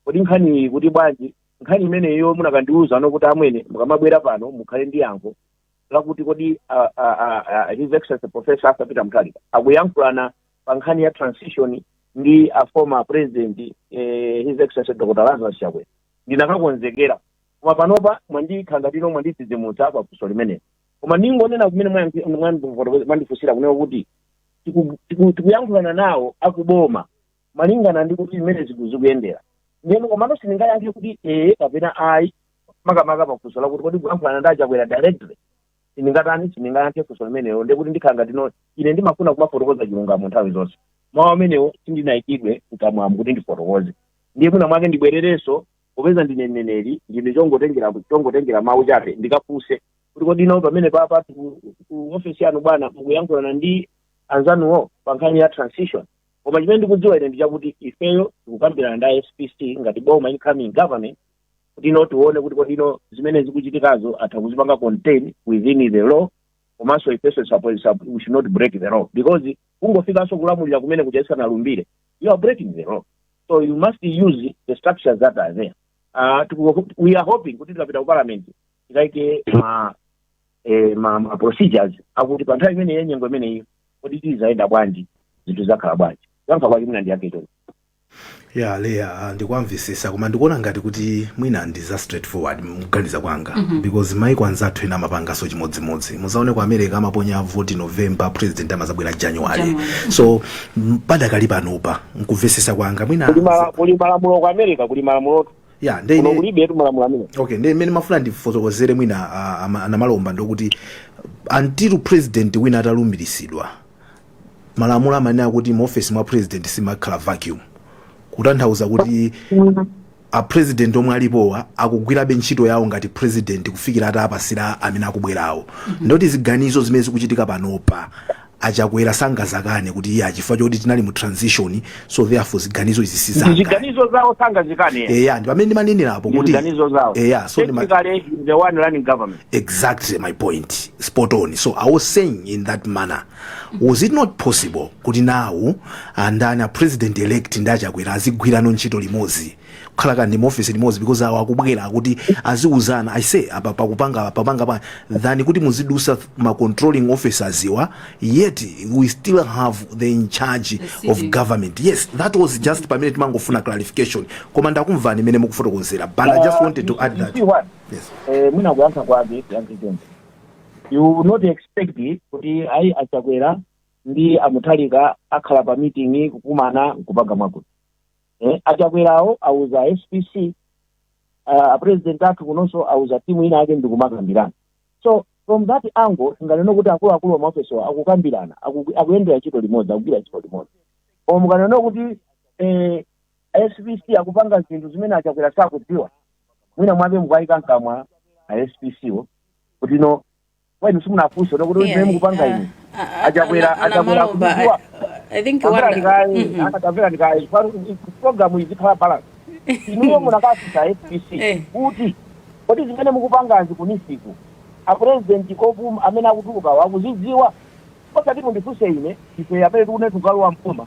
kodi nkhani iyi ikuti bwanji nkhani imeneyo munakandiuza ino kuti amwene mukamabwera pano mukhale ndi yankho lakuti kodi uh, uh, uh, his excellency professor arthur peter mutharika akuyankhulana pa nkhani ya transition ndi a former president eh, his excellency dr lazarus chakwera ndinakakonzekera koma panopa mwandikhala ngati ino mwandidzidzimutsa pa funso limeneli koma ndingonena kumene mwayankhi- mwandifotokoza- mwandifunsira kunena kuti tiku- tiku- tikuyankhulana nawo akuboma malingana ndi kuti mmene zinthu zikuyendera ndiyeno komano sindingayankhe kuti ee kapena ayi makamaka pa funso lakuti kodi akuyankhulana ndi achakwera directly sindingatani sindingayankhe funso limenelo ndiye kuti ndikhala ngati ino ine ndimafuna kumafotokoza chilungamo nthawi zonse mawu amenewo sindinayikidwe mkamwamu kuti ndifotokoze ndiye mwina mwake ndibwererenso popeza ndine mneneri ndine chongotengera chongotengera mawu chabe ndikafunse kuti kodi ino pamene papa ku ku ofesi yanu bwana mukuyankhulana ndi anzanuwo pa nkhani ya transition koma chimene ndikudziwa ine ndi chakuti ifeyo tikukambirana ndi a spc ngati boma incoming government kuti ino tione kuti kodi ino zimene zikuchitikazo atha kuzipanga contain within the law komanso ifenso should- we we should not break the law because kungofikanso kulamulira kumene kuja usanalumbire you are breaking the law so you must use the structures that are there uh, tiku- we are hoping kuti tikapita ku parliament tikaike ma eh, ma, ma procedures akuti pa nthawi imeneyi ya nyengo imeneyi kodi tizayenda bwanji zinthu zakhala bwanji yankha kwake mina ndiyake choncho ya leya ah, ndikuwamvesesa koma ndikuona ngati kuti mwina ndi za straight forward mkuganiza kwanga because maiko anzathu ena amapangaso chimodzimodzi muzaone ku america amaponya voti november president amazabwera january. so m- padakali panopa nkuvesesa kwanga mwina kuli mala- kuli malamulo ku america kuli malamulo ya kuno nde ine kulibetu malamulo amene okay ndi mmene mmafuna ndifotokozere mwina ah, ama- a namalomba ndikuti until president wina atalumbiritsidwa malamulo amanena kuti mu office mwa president simakhala vacuum kutanthauza kuti a president omwe alipowa akugwirabe ntchito yawo ngati president kufikira atapasira amene akubwerawo ndoti ziganizo zimene zikuchitika panopa a chakwera sangazakane kuti iyayi chifukwa choti tinali mu transition so therefore ziganizo izi si zanga ziganizo zawo sangazikane eya ndi pamene ndimanenerapo kuti ziganizo zawo eya so ndima- technically the one running government exactly my point spot on so i was saying in that manner was it not possible kuti now a ndani a president elect ndi a chakwera azigwirano ntchito limodzi kukhala kani mu office limodzi because awo akubwera kuti aziuzana i say apa pakupanga papanga pa than kuti muzidusa ma controlling officers iwa yet we still have the in charge of government yes that was just pamene timangofuna clarification koma ndakumvani mmene mukufotokozera but i just wanted to add that yes. Eh, mwina kuyankha kwake yanzitende you would not expect kuti ayi a chakwera ndi a mutharika akhala pa meeting kukumana nkupanga mwakuti eh, a chakwerawo auza spc uh, apresident athu kunonso auza timu ina yake ndikumakambirana so from that angle tinganene kuti akuluakulu amaofesowa akukambirana aku- akuyendera ntchito limodzi akugwira ntchito limodzi koma mukanena kuti eh, spc akupanga zinthu zimene a chakwera sakudziwa mwina mwake mukuwayika mkamwa a spc wo kuti no kwa inu simunafunse no kuti Yeah, zimene mukupanga uh, inu uh, uh, achakwera ana- achakwera a namalomba, I, akudziwa I think tamvera one. ndikaye Mhm. akatamvera ndikaye programu izikhala balance inuyo munakafunsa spc Eh. kuti kodi zimene mukupangazi ku NEEF ku apurezidenti opuma amene akutulukawo akuzidziwa osati mundifunse ine ife amene tikune tukalowa m'boma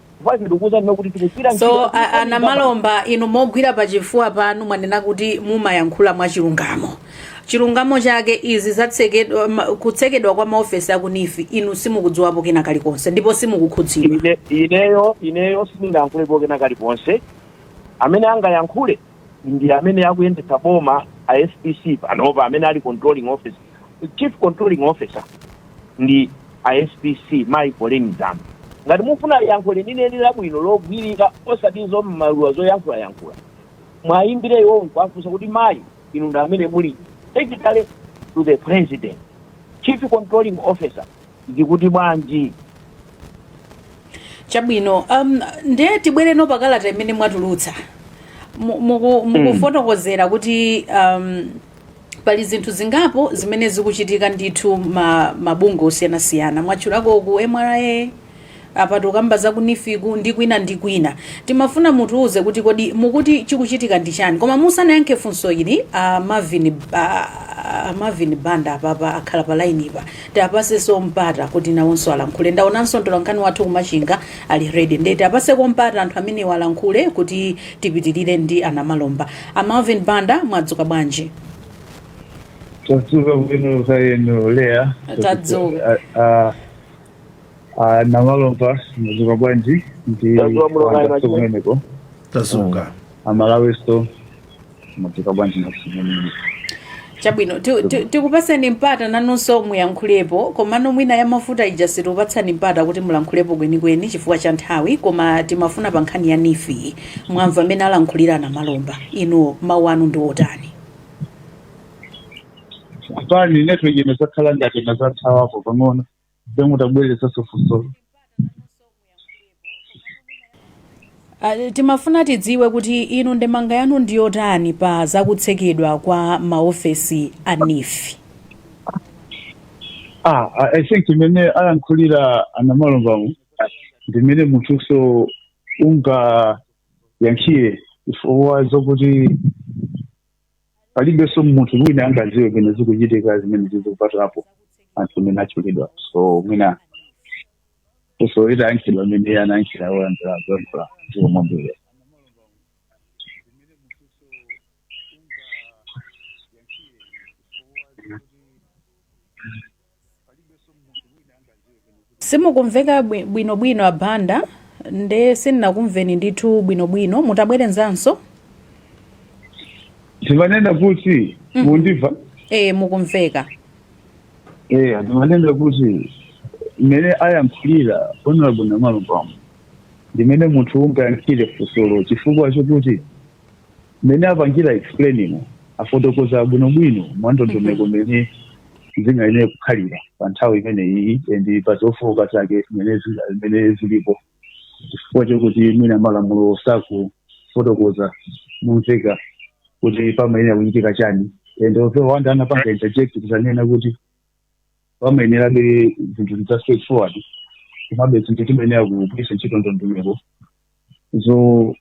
Basi ndikukuuzani no kuti tikugwira ntchito so a- a namalomba inu mogwira pa chifuwa panu mwanena kuti mumayankhula mwa chilungamo chilungamo chake izi zatsekedwa ma- kutsekedwa kwa maofesi a ku NEEF inu simukudziwapo kena kalikonse ndipo simukukhudzidwa Ine- ineyo ineyo sindingayankhulepo kena kalikonse amene angayankhule ndi amene akuyendetsa boma a SPC panopa amene ali controlling officer chief controlling officer ndi a SPC mayi Colleen Zamba ngati mufuna yankho lenileni labwino logwirika osati za mmaluwa zoyankhulayankhula mwayimbire iwowo nkuwafunsa kuti mayi inu ndi amene muli secretary to the president chief controlling officer ndikuti bwanji? Chabwino, um, nde tibwereno pakalata imene mwatulutsa Mu- muku- mukufotokozera kuti um, pali zinthu zingapo zimene zikuchitika ndithu ma, mabungwe osiyanasiyana mwatchulako ku MRA Apa tukamba za ku NEEF-ku ndi kwina ndi kwina. Timafuna mutiuze kuti kodi mukuti chikuchitika ndi chani? Koma musanayankhe funso ili a Marvin a a Marvin Banda apapa akhala pa lainipa. Tiapasenso mpata kuti nawonso alankhule. Ndaonanso mtolankhani wathu ku Machinga ali ready. Ndiye tiapaseko mpata anthu amenewa alankhule kuti tipitirire ndi a Namalomba. A Marvin Banda mwadzuka bwanji? tadzuka bwino kaya inu Leah Tadzuka. Ah, ah, A Namalomba mwadzuka bwanji ndi Tadzuka bho, kaya a Bandanso machine. kumeneko tadzuka aMalawinso mwadzuka bwanji nakusimeneni chabwino ti- ti- tikupatseni mpata nanunso muyankhulepo komano mwina ya mafuta ija sitikupatsani mpata kuti mulankhulepo kwenikweni chifukwa cha nthawi koma timafuna pa nkhani ya NEEF mwamva mmene alankhulira a Namalomba inu mawu anu ndi otani pepani network inazakhala ngati inazathawapo pang'ono Ndiye mutabwerezanso funsolo. Ah, timafuna tidziwe kuti inu ndemanga yanu ndi yotani pa zakutsekedwa kwa maofesi a NEEF Ah, I I think mmene ayankhulira a Namalombamu ndi mmene munthunso ungayankhire chifukwa zokuti palibenso munthu wina angadziwe penipeni zikuchitika zimene zizikupatulapo anthu amene atchulidwa so mwina so itayankhidwa mmene anayankhira oyanjira zoyankhula zikomo kwambiri Simukumveka bwi- bwinobwino a Banda nde sindinakumveni ndithu bwinobwino mutabwerezanso ndimanena kuti mundimva e, mukumveka eya ndimanena kuti mmene ayankhulira honorable Namalombamu ndi mmene munthu ungayankhire funsolo chifukwa chokuti mmene apangira explainimo afotokoza bwinobwino mwa ndondomeko mmene zingayenere kukhalira pa nthawi imeneyi and pa zofooka zake mmene zinga- zimene zilipo chifukwa chokuti mwina malamulo sakufotokoza momveka kuti pamayenera kuchitika chani and although a Banda anapanga interject kuzanena kuti pamayenerabe zinthu za straight forward komabe zinthu timayenera kugwiritsa ntchito ndondomeko zo-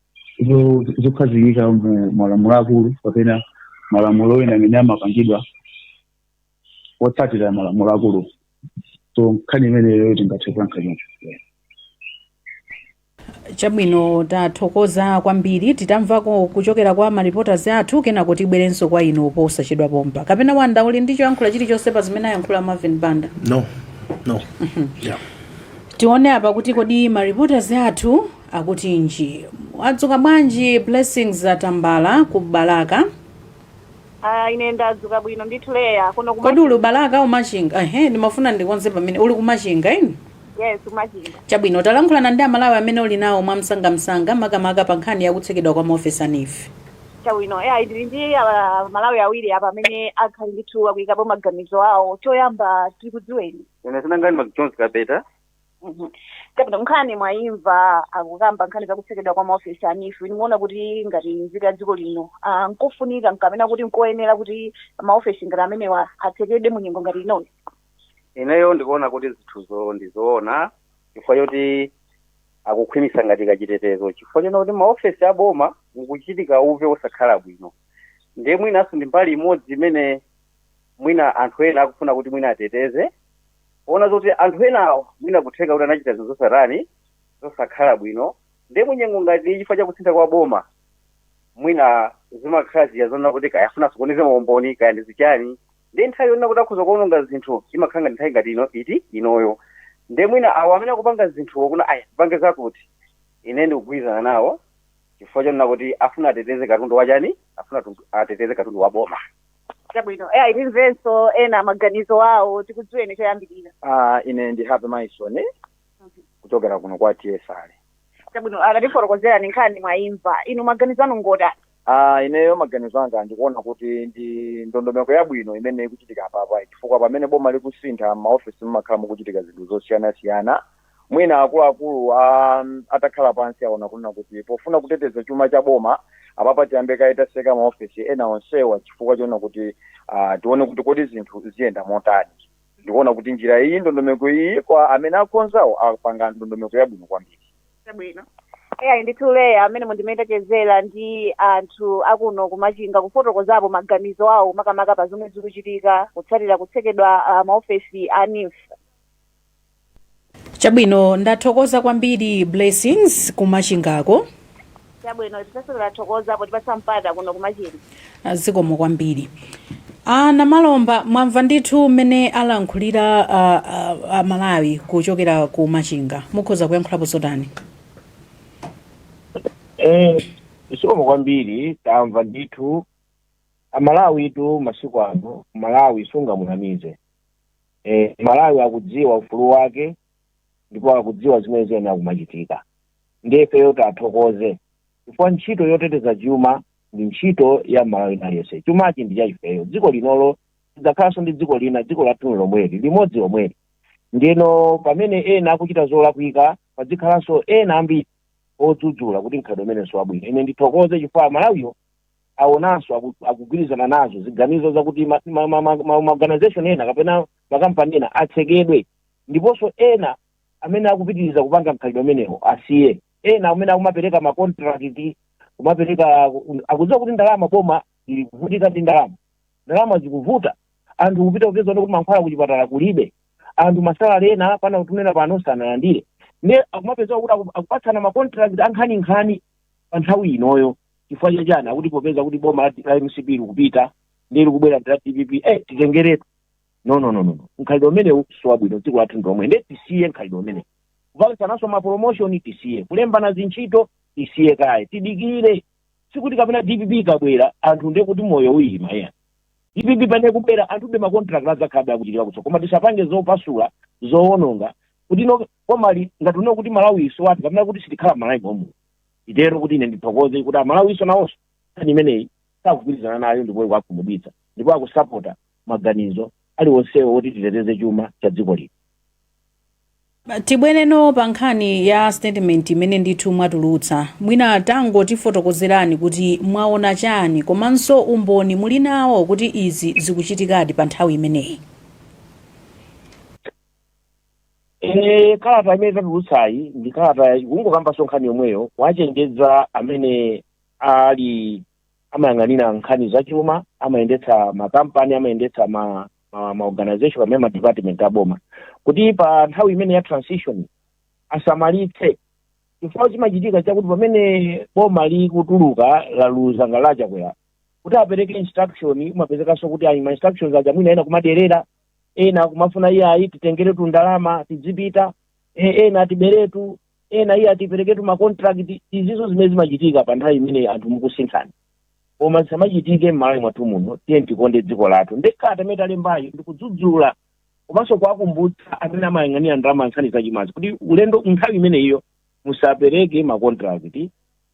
zo- zokhazikika mu malamulo akulu kapena malamulo ena amene amapangidwa otsatira malamulo akulu so nkhani imeneyo tingathe kuyankha choncho Chabwino tathokoza kwambiri titamvako kuchokera kwa ma reporters athu kenako tibwerenso kwa inu posachedwa pompa kapena wanda uli ndi choyankhula chilichonse pa zimene ayankhula marvin banda no no yeah. tione apa kuti kodi ma reporters athu akutinji wadzuka bwanji blessings tambala ku balaka Ah, ine ndadzuka bwino ndithu leya kuno kodi uli ku balaka or machinga ehe ndimafuna ndikonze pamene uli kumachinga eni yes kumachinga chabwino talankhulana ndi amalawi amene uli nawo mwamsangamsanga makamaka pa nkhani yakutsekedwa kwa maofesi a neef chabwino leya ndili ndi amalawi awiri apa amene akhale ndithu akuyikapo maganizo awo choyamba tikudziweni ine dzina langa ndi mcjones kapeta Mhm. chabwino nkhani mwayimva akukamba nkhani za kutsekedwa kwa maofesi a neef inu mukuona kuti ngati nzika ya dziko lino ah, nkofunika kapena kuti nkoyenera kuti maofesi ngati amenewa atsekedwe mu nyengo ngati inoyi ineyo ndikuona kuti zinthuzo ndizoona chifukwa choti akukhwimisa ngati kachitetezo chifukwa chonena kuti m'maofesi a boma mukuchitika uve osakhala bwino ndiye mwinanso ndi mbali imodzi imene mwina anthu ena akufuna kuti mwina ateteze Poona zoti anthu enawo mwina kutheka kuti anachita zinthu zosatani, zosakhala bwino, nde munyengo ngati iyi chifukwa cha kusintha kwa boma mwina zimakhala zija zonena kuti kaya afuna asokoneze maumboni kaya ndi zichani, nde nthawi yonena kuti akhoza kuononga zinthu imakhala ngati nthawi ngati ino iti inoyo, nde mwina awo amene akupanga zinthuwo kunena ayi tipange zakuti, ine ndikugwirizana nawo chifukwa chonena kuti afuna ateteze katundu wachani, afuna ateteze katundu wa boma. chabwino eyi timvenso ena maganizo awo tikudziweni choyambirira Ah, ine ndi happy maison kuchokera kuno kwa tsr chabwino tatifotokozerani nkhani mwayimva inu maganizo anu ngotani Ah, ineyo maganizo anga ndikuona kuti ndi ndondomeko yabwino imene ikuchitika apapa chifukwa pamene boma likusintha m'maofesi mumakhala mukuchitika zinthu zosiyanasiyana mwina akuluakulu a atakhala pansi aona kunena kuti pofuna kuteteza chuma cha boma apapa tiyambe kaye taseka maofesi ena onsewa chifukwa chonena kuti uh, tione kuti kodi zinthu ziyenda motani ndikuona kuti njira iyi ndondomeko iyi kwa amene akonzawo apanga ndondomeko yabwino kwambiri Chabwino. Eya ndithu Leya amenewo ndi m'mene tachezera ndi anthu akuno kumachinga kufotokozapo maganizo awo makamaka pa zomwe zikuchitika kutsatira kutsekedwa ah, maofesi a NEEF. Chabwino, ndathokoza kwambiri Blessings ku Machingako. Chabwino, ifenso tathokoza potipatsa mpata kuno ku Machinga. Zikomo kwambiri. A Namalomba, mwamva ndithu mmene alankhulira a, a, a Malawi kuchokera ku Machinga. Mukhoza kuyankhulapo zotani? Eh, zikomo kwambiri tamva ndithu aMalawitu masiku ano Mmalawi sungamunamize eh, Mmalawi akudziwa ufulu wake ndipo akudziwa zimene ziyenela kumachitika ndiye ifeyo tithokoze chifukwa ntchito yoteteza chuma ndi ntchito ya Mmalawi wina aliyense chumachi ndi chaifeyo dziko lino silidzakhalanso ndi dziko lina dziko lathu ndi lomweli limodzi lomweli ndiyeno pamene ena akuchita zolakwika padzikhalanso ena ambiri odzudzula kuti mkhalidwe umenewu siwabwino ine ndithokoze chifukwa aMalawiwo awonanso aku- akugwirizana nazo ziganizo zakuti ma- ma- ma- ma- ma- maorganization ena kapena makampani ena atsekedwe ndiponso ena amene akupitiriza kupanga mkhalidwe umenewo asiye ena amene akumapereka makontrakiti kumapereka akudziwa kuti ndalama boma ili kuvutika ndi ndalama ndalama zikuvuta anthu kupita kupeza kuti mankhwala kuchipatala kulibe anthu masalale awo ena pena kufikira pano sanalandire ne akumapeza kuti aku- akupatsana makontrakiti a nkhaninkhani pa nthawi inoyo chifukwa cha chiyani akuti popeza kuti boma la- la mcp likupita nde likubwera ndi la dpp eh titengeretu no no no no no. mkhalidwe umenewu siwabwino dziko lathu ndi lomweli ndiye tisiye mkhalidwe umenewu kupatsananso mapromotion tisiye kulembana zintchito tisiye kaye tidikire sikuti kapena dpp ikabwera anthu ndiye kuti moyo uyima ya dpp pamene ikubwera anthu be makontrakt adzakhalabe akuchitika kutso koma tisapange zopasula zowononga kuti no komali ngati uno kuti malawi siwathu kapena kuti sitikhala malawi momu nditero kuti ine ndithokoze kuti aMalawinso nawonso nkhani imeneyi sakugwirizana nayo ndipo ikuwakhumudwitsa ndipo akusapota maganizo aliwonsewo woti titeteze chuma cha dziko lino tibwereno pa nkhani ya statement imene ndithu mwatulutsa mwina tangotifotokozerani kuti mwaona chiyani komanso umboni muli nawo kuti izi zikuchitikadi pa nthawi imeneyi Eh, kalata imene tatulutsayi ndi kalata ikungokambanso nkhani yomweyo kuwachenjeza amene ali amayang'anira nkhani zachuma amayendetsa makampani amayendetsa ma, ma, ma organization pamene ma department aboma kuti pa nthawi imeneyi ya transition asamalitse chifukwa chimachitika chakuti pamene boma likutuluka laluza ngati la Chakwera kuti apereke instruction umapezekanso kuti ayi ma instructions aja mwina ena kumaderera ena akumafuna iyayi titengeretu ndalama tidzipita e, ena tiberetu ena iyayi tipereketu makontrakt izizo zimene zimachitika pa nthawi imene anthu mukusinthana koma zisamachitike m'malawi mwathu muno tiyeni tikonde dziko lathu nde kalata imene talembayo ndikudzudzula komanso kuwakumbutsa amene amayang'anira ndalama nkhani zachumazi kuti ulendo nthawi imeneyiyo musapereke makontrakt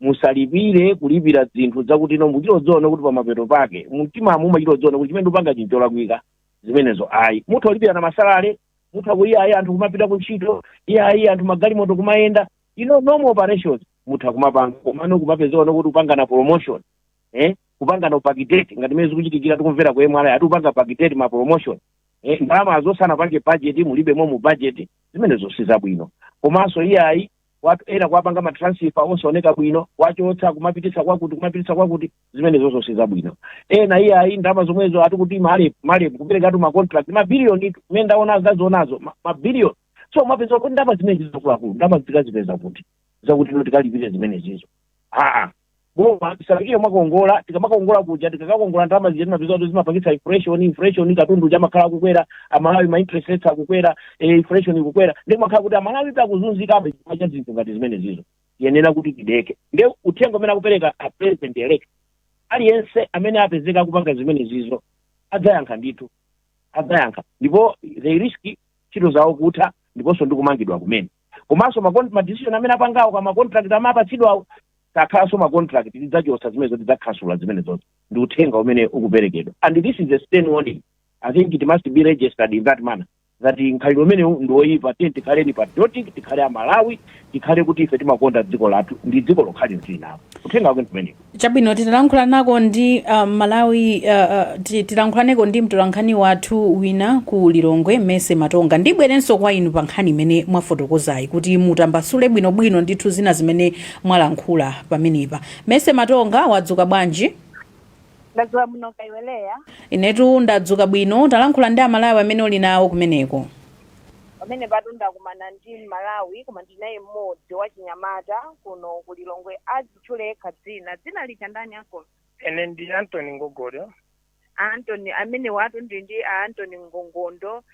musalipire kulipira zinthu zakuti you know muchita kudziona kuti pamapeto pake mumtimamu umachita kudziona kuti chimene ndikupangachi n'cholakwika zimenezo ayi mutha kulipirana ma salary mutha ku iyayi anthu kumapita ku ntchito iyayi anthu magalimoto kumayenda you know normal operations mutha kumapanga komano kumapezekano kuti kupangana promotion eh kupangana backdate ngati mene zikuchitikira tikumvera ku MRA ati akupanga backdate ma promotion eh ndalama zoti sanapange budget mulibemo mu budget zimenezo si zabwino komanso iyayi kwa ena kuwapanga matransfer osaoneka bwino kuwachotsa kumapititsa kwakuti kumapititsa kwakuti zimenezozo si zabwino ena iyayi ndalama zomwezo ati kuti MAREP MAREP kuperekatu macontract mabiliyoni zimene ndaona ndazionazo ma- mabiliyoni so umapeza kuti ndalama zimenezi zakuluakulu ndalama tikazipeza kuti zakuti you know tikalipire zimenezizo aa boma tisafikire mwakongola tikamakongola kuja tikakakongola ndalama zija timapeza kuti zimapangitsa inflation inflation katundu uja amakhala akukwera amalawi ma interest rates akukwera eh, inflation ikukwera nde zimakhala kuti amalawi akuzunzikabe chifukwa cha zinthu ngati zimenezizo tiyenera kuti tideke ndi uthenga umene akupereka a president elect aliyense amene apezeka akupanga zimenezizo adzayankha ndithu adzayankha ndipo they risk ntchito zawo kutha ndiponso ndikumangidwa kumene komanso ma con- ma decision amene apangawo kaya ma contract amene apatsidwawo sakhalanso ma contract tidzachotsa zimenezo tidzakhansula zimenezo ndi uthenga umene ukuperekedwa and this is a stern warning i think it must be registered in that manner that mkhalidwe umenewu ndi woyipa tiyeni tikhaleni patriotic tikhale amalawi tikhale kuti ife timakonda dziko lathu ndi dziko lokhali tili nalo uthenga wake ndi umenewu Chabwino, titalankhulanako ndi uh, Malawi uh, uh, ti- tilankhulaneko ndi mtolankhani wathu wina ku Lilongwe Mercy Matonga. Ndibwerenso kwa inu pa nkhani imene mwafotokozayi kuti mutambasule bwinobwino ndithu zina zimene mwalankhula pamenepa. Mercy Matonga wadzuka bwanji? ndadzuka bwino kaya iwe Leah Inetu ndadzuka bwino, talankhula ndi Amalawi amene uli nawo kumeneko. pamenepatu ndakumana ndi Amalawi koma ndinaye mmodzi wachinyamata kuno ku lilongwe ati atitchule yekha dzina dzina lija ndani anko ine ndi antony ngongondo antony amenewatu ndi ndi a antony ngongondo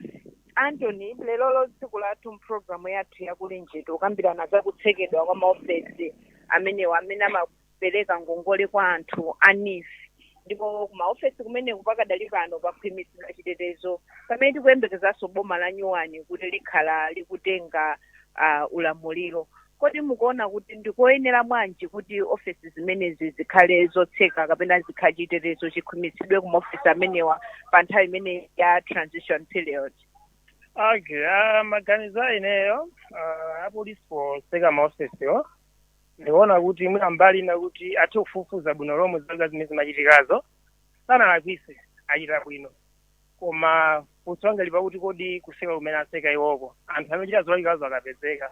antony lerolo tsiku lathu mpulogalamu yathu ya Kulinji tikukambirana za kutsekedwa kwa maofesi amenewa amene amapereka ngongole kwa anthu a NEEF ndipo kumaofesi kumeneku pakadali pano pakhwimitsidwa chitetezo pamene tikuyembekezanso boma la nyuwani kuti likhale likutenga uh, ulamuliro Kodi mukuona kuti ndi koyenera bwanji kuti ofesi zimenezi zikhale zotseka kapena zikha chitetezo chikhwimitsidwe ku maofesi amenewa pa nthawi imene ya transition period? Okay, ah, maganizo a ineyo ah, apolisi poseka maofesiwo ndikuona kuti mwina mbali ina kuti athe kufufuza bwino lomwe zinthu zimene zimachitikazo sanalakwise achita bwino Koma funso langa lili pakuti kodi kuseka kumene aseka iwoko, anthu amene achita zolakwikazo akapezeka,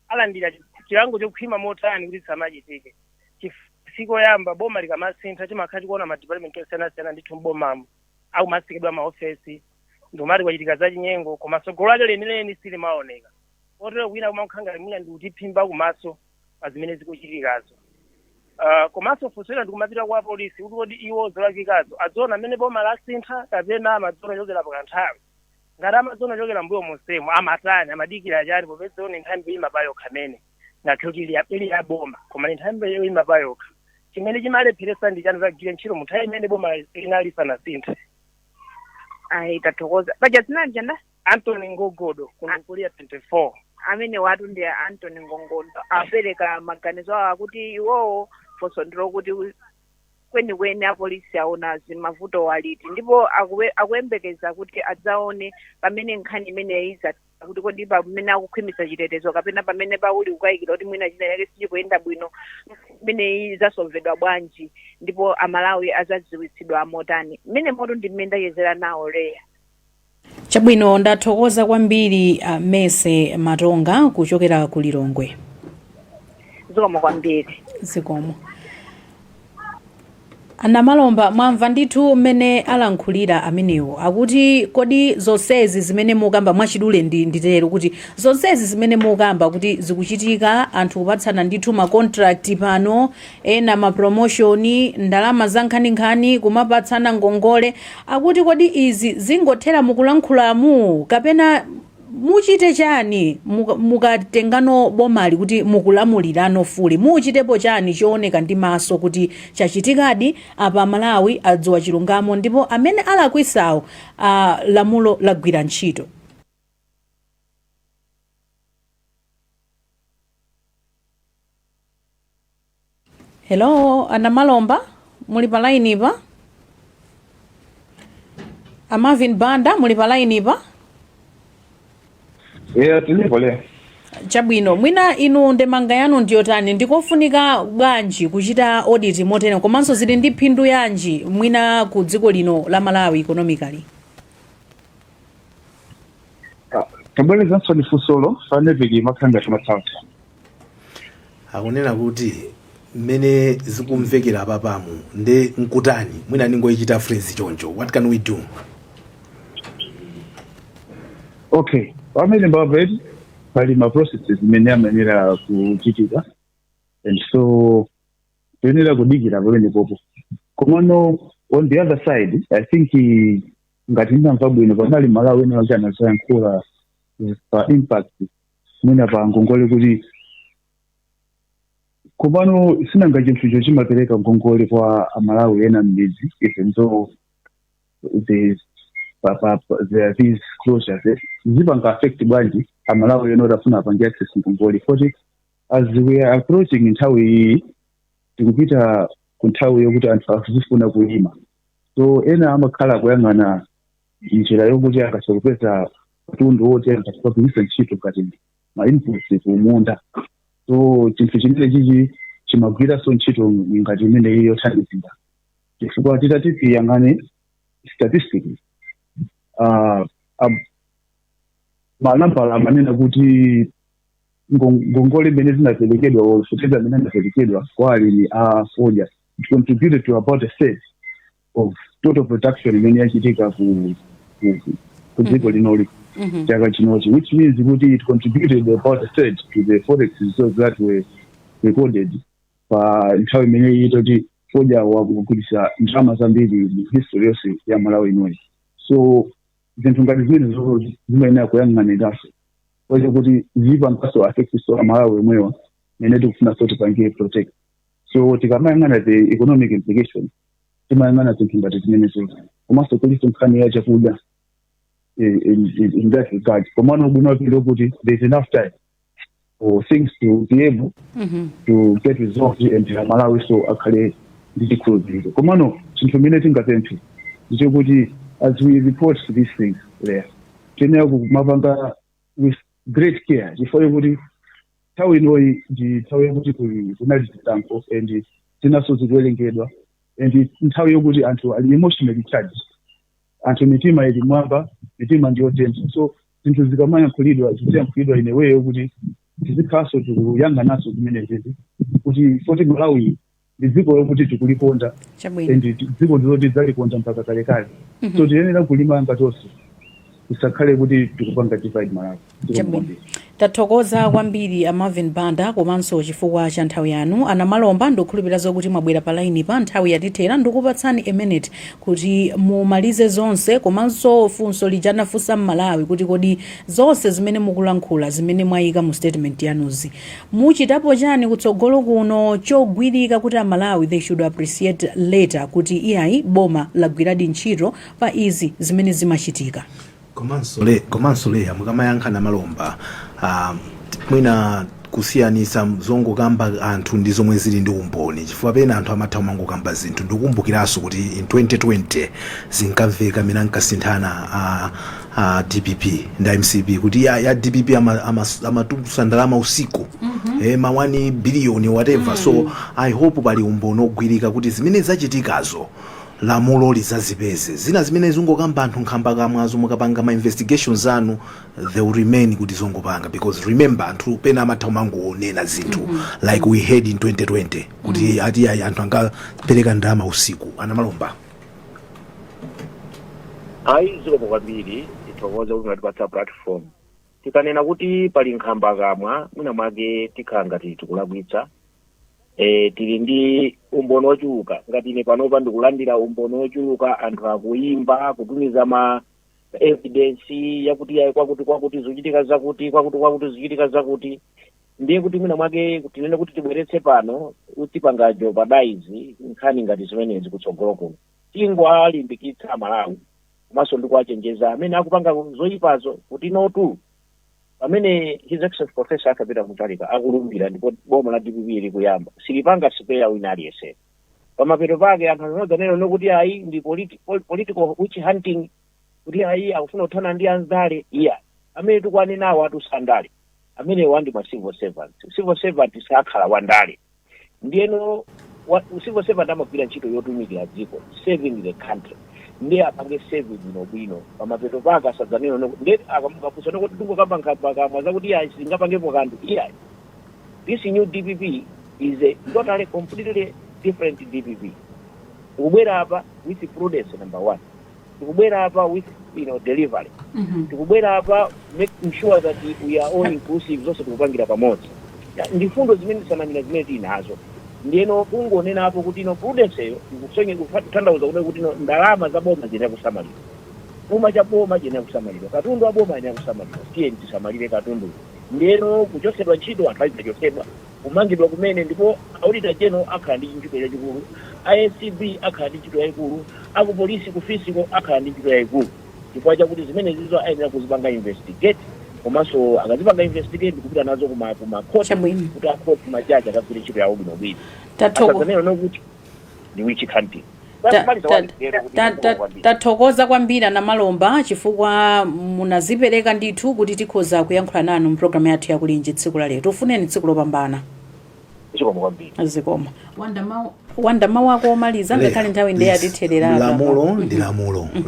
alandira chilango chokhwima motani kuti zisamachitike? Chifukwa si koyamba boma likamasintha timakhala tikuona ma department osiyanasiyana ndithu m'bomamo akumatsekedwa ma ofesi ndikumati kwachitika zachinyengo koma tsogolo lake lenileni silimaoneka kotero kwina kumakhala ngati mwina ndi kutiphimba kumaso. pa zimene zikuchitikazo uh, komanso funso lina likumapita kwa polisi kuti kodi iwo zolakwikazo adziona amene boma lasintha kapena amadziona kuchokera pakanthawi ngati amadziona kuchokera mbuyo monsemo amatani amadikira chani popeza iwo ndi nthambi yoyima pa yokha mene ngakhale ili ya- ili ya boma koma ndi nthambi yoyima pa yokha chimene chimawalepheretsa ndi chani kuzagwira ntchito mu nthawi imene boma linali lisanasinthe ayi tathokoza paja dzina lija Anthony Ngogodo kuno ku Area 24. amenewatu ndi a Anthony Ngogodo apereka maganizo awo akuti iwowo funso ndilo kuti kwenikweni apolisi aona za mavutowa liti ndipo akuwe- akuyembekeza kuti adzaone pamene nkhani imeneyi kuti kodi pamene akukhwimitsa chitetezo kapena pamene pali kukayikira kuti mwina china chake sichikuyenda bwino imeneyi izasolvedwa bwanji ndipo amalawi azadziwitsidwa motani mmenemotu ndi mmene ndachezera nawo Leah Chabwino ndathokoza kwambiri a Mercy Matonga kuchokera ku Lilongwe. zikomo kwambiri zikomo a Namalomba mwamva ndithu mmene alankhulira amenewo akuti kodi zonsezi zimene mukamba mwachidule nditero kuti zonsezi zimene mukamba kuti zikuchitika anthu kupatsana ndithu ma contract pano Ena ma promotion, ndalama za nkhaninkhani, kumapatsana ngongole. Akuti kodi izi zingothera mukulankhulamu? Kapena muchite chani mukatengano bomali kuti mukulamulirano fully? Muchitepo chani chooneka ndi maso kuti chachitikadi apa Amalawi adziwa chilungamo ndipo amene alakwisawo lamulo lagwira ntchito? hello a namalomba muli pa line pa a marvin banda muli pa line pa eya tilipo le chabwino mwina inu ndemanga yanu ndiyotani ndikofunika bwanji kuchita audit motere komanso zili ndi phindu yanji mwina ku dziko lino la malawi economically tabwerezanso ni funsolo panevitiki makhala ngati mathanso akunena kuti mmene zikumvekera apapamu nde nkutani mwina ndingoyichita phrase choncho what can we do okay pamene mwapeti pali ma processes imene amayenera kuchitika and so toyenera kudikira pamenepopo komano on the other side i think eh, ngati ndinamva bwino panali amalawi enaake anazayankhula pa impact mwina pa ngongole kuti komano sinanga chinthucho chimapereka ngongole kwa amalawi ena mmidzi even though the pa- pa- pa- there are these closures eh, ziwapanga affect bwanji amalawi ena oti afuna apange access ngongole poti as we are approaching nthawi iyi tikupita ku nthawi yokuti anthu azifuna kulima so ena amakhala akuyang'ana njira yokuti angathe kupeza katundu woti angathe kugwiritsa ntchito ngati ma inputs kumunda so chinthu chimene chichi chimagwiranso ntchito ngati imene iyi yothandizira chifukwa titati tiyang'ane statistics uh, manambala amanena kuti ngon- ngongole imene zinaperekedwa or fertilizer imene inaperekedwa kwa alimi a fodya it contributed to about a third of total production imene yachitika ku ku- ku- ku dziko linoli Mhm. chaka chinochi which means kuti it contributed about a third to the forex reserves that were recorded pa nthawi imeneyi yoti fodya wagulitsa ndalama zambiri mu history yonse ya malawi inoyi so zinthu ngati zimenezozo zimayenera kuyang'anidwanso kwachokuti ziwapangaso affect-so amalawi omwewa amene tikufunanso tipange protect so tikamayang'ana the economic implication timayang'ana zinthu ngati zimenezozo komanso kulinso nkhani ya chakudya eh, in, in, in that regard komano ubwino wake ndiokuti there's enough time for things to be able Mhm. to get resolved and amalawinso akhale ndi chikhulupiriro komano chinthu chimene tingapemphe ndichokuti as we report these things there tiyenera kumapanga with great care chifukwa chokuti nthawi inoyi ndi nthawi yokuti kuli- kunali zisankho and zinaso zikuwerengedwa and nthawi yokuti anthu ali emotionally charged anthu mitima ili m'mwamba mitima ndiyotentha so zinthu zikamayankhulidwa ziziyankhulidwa in a way yokuti tizikhalanso tikuyang'ananso zimenezizi kuti poti malawi ndi dziko lokuti tikulikonda chabwino and dziko ndiloti tidzalikonda mpaka kalekale so tiyenera kulimanga tonse tisakhale kuti tikupanga divide malawi chabwino tathokoza kwambiri a marvin banda komanso chifukwa cha nthawi yanu anamalomba ndikukhulupirira zokuti mwabwera pa laini pa nthawi yatithera ndikupatsani a minute kuti mumalize zonse komanso funso lija anafunsa mmalawi kuti kodi zonse zimene mukulankhula zimene mwayika mu statement yanuzi muchitapo chani kutsogolo kuno chogwirika kuti amalawi they should appreciate later kuti iyayi boma lagwiradi ntchito pa izi zimene zimachitika. komanso le komanso leya mukamayankha a Namalomba ah, mwina kusiyanisa zongokamba anthu ndi zomwe zili ndi umboni chifukwa pena anthu amatha kumangokamba zinthu ndikumbukiraso kuti in 2020 zinkamveka mmene ankasinthana a, a dpp ndi mcp kuti ya, ya dpp amatulutsa ama, ama amatulutsa ndalama usiku eh, ma 1 biliyoni whatever so i hope pali umboni ogwirika kuti zimene zachitikazo lamulo lizazipeze. Zina zimene zikungokamba anthu nkhamba kamwazo mukapanga ma investigations anu they will remain kuti zongopanga because remember anthu pena amatha kumangonena zinthu like we heard in 2020 kuti ati ayi anthu ankapereka ndalama usiku anamalomba ayi zikomo kwambiri tithokoze kuti mwatipatsa platform tikanena kuti pali nkhamba kamwa mwina mwake tikhala ngati tikulakwitsa e, tili ndi umboni ochuluka ngati ine panopa ndikulandira umboni ochuluka anthu akuyimba kutumiza ma evidence yakuti yayi kwakuti kwakuti zochitika zakuti kwakuti kwakuti zochitika zakuti ndiye kuti mwina mwake tinene kuti tibweretse pano tipanga jeopardize nkhani ngati zimenezi kutsogolo kuno tingowalimbikitsa amalawi komanso ndikuwachenjeza amene akupanga zoyipazo kuti notu pamene his excellency professor Arthur Peter Mutharika akulumbira ndipo boma la dpp likuyamba silipanga spare wina aliyense pamapeto pake anthu asadzanena nokuti ayi ndi politi- pol- political witch hunting kuti ayi akufuna kuthana ndi andale iya amene tikuwanenawo si a ndale amenewo ndi ma civil servants civil servant sakhala wandale ndiyeno civil servant amagwira ntchito yotumikira dziko serving the country ndiye apange serve bwinobwino pamapeto pake asadzanena no- ndiye akamukafusa nokuti ndingokamba nkhambakamwa zakuti iya singapangepo kanthu iyayi this new dpp is a totally completely different dpp tikubwera apa with prudence number one tikubwera apa with you know delivery Mhm. tikubwera apa making sure that we are all inclusive zonse tikupangira pamodzi Ya, ndi mfundo zimene tatsamira zimene tili nazo ndiyeno kungonenapo kuti you know prudenceyo ikusonye kutanthauza kunena kuti you know ndalama za boma ziyenera kusamalidwa chuma cha boma chiyenera kusamalidwa katundu wa boma ayenera kusamalidwa tiyeni tisamalire katundu ndiyeno kuchotsedwa ntchito anthu azidzachotsedwa kumangidwa kumene ndipo auditor general akhala ndi ntchito chachikulu a acb akhala ndi ntchito yaikulu aku police ku fiscal akhala ndi ntchito yaikulu chifukwa chakuti zimenezizo ayenera kuzipanga investigate komanso akazipanga investigate ndikupita nazo kuma kuma court Chabwino. kuti a court majaji akagwire ntchito yawo bwinobwino Tathokoza. asadzanena nokuti ndi witch hunting tathokoza kwambiri a Namalomba chifukwa munazipereka ndithu kuti tikhoza kuyankhula nanu mpulogalamu yathu ya Kulinji tsiku la lero tikufunireni tsiku lopambana zikomo Wanda mawu ako omaliza ngakhale nthawi ndiye yatithera apa lamulo ndi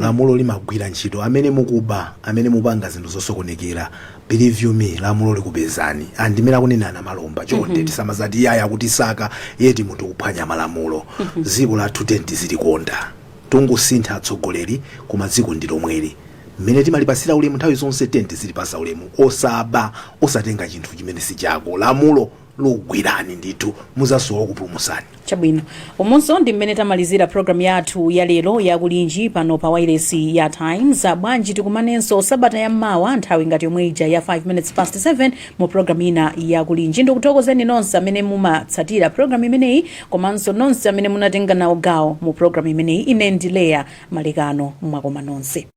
lamulo limagwira ntchito amene mukuba amene mukupanga zinthu zosokonekera Believe you me lamulo likupezani and ndimene akunena anamalomba chonde tisamazati iyayi akutisaka yet munthu ukuphwanya malamulo dziko lathu tiyeni tizilikonda tangosintha atsogoleri koma dziko ndi lomweli mmene timalipatsira ulemu nthawi zonse tiyeni tizilipatsa ulemu osaba osatenga chinthu chimene si chako lamulo likugwirani ndithu muzasowa okupulumusani. chabwino umu ndi mmene tamalizira programu yathu ya lero ya Kulinji pano pa wailesi ya Times Ah, bwanji tikumanenso sabata ya mawa nthawi ngati yomwe ija ya 5 minutes past 7 mu programu ina ya Kulinji ndikuthokozeni nonse amene mumatsatira programu imeneyi komanso nonse amene munatenga nawo gawo mu programu imeneyi ine ndi Leah Malekano mwakoma nonse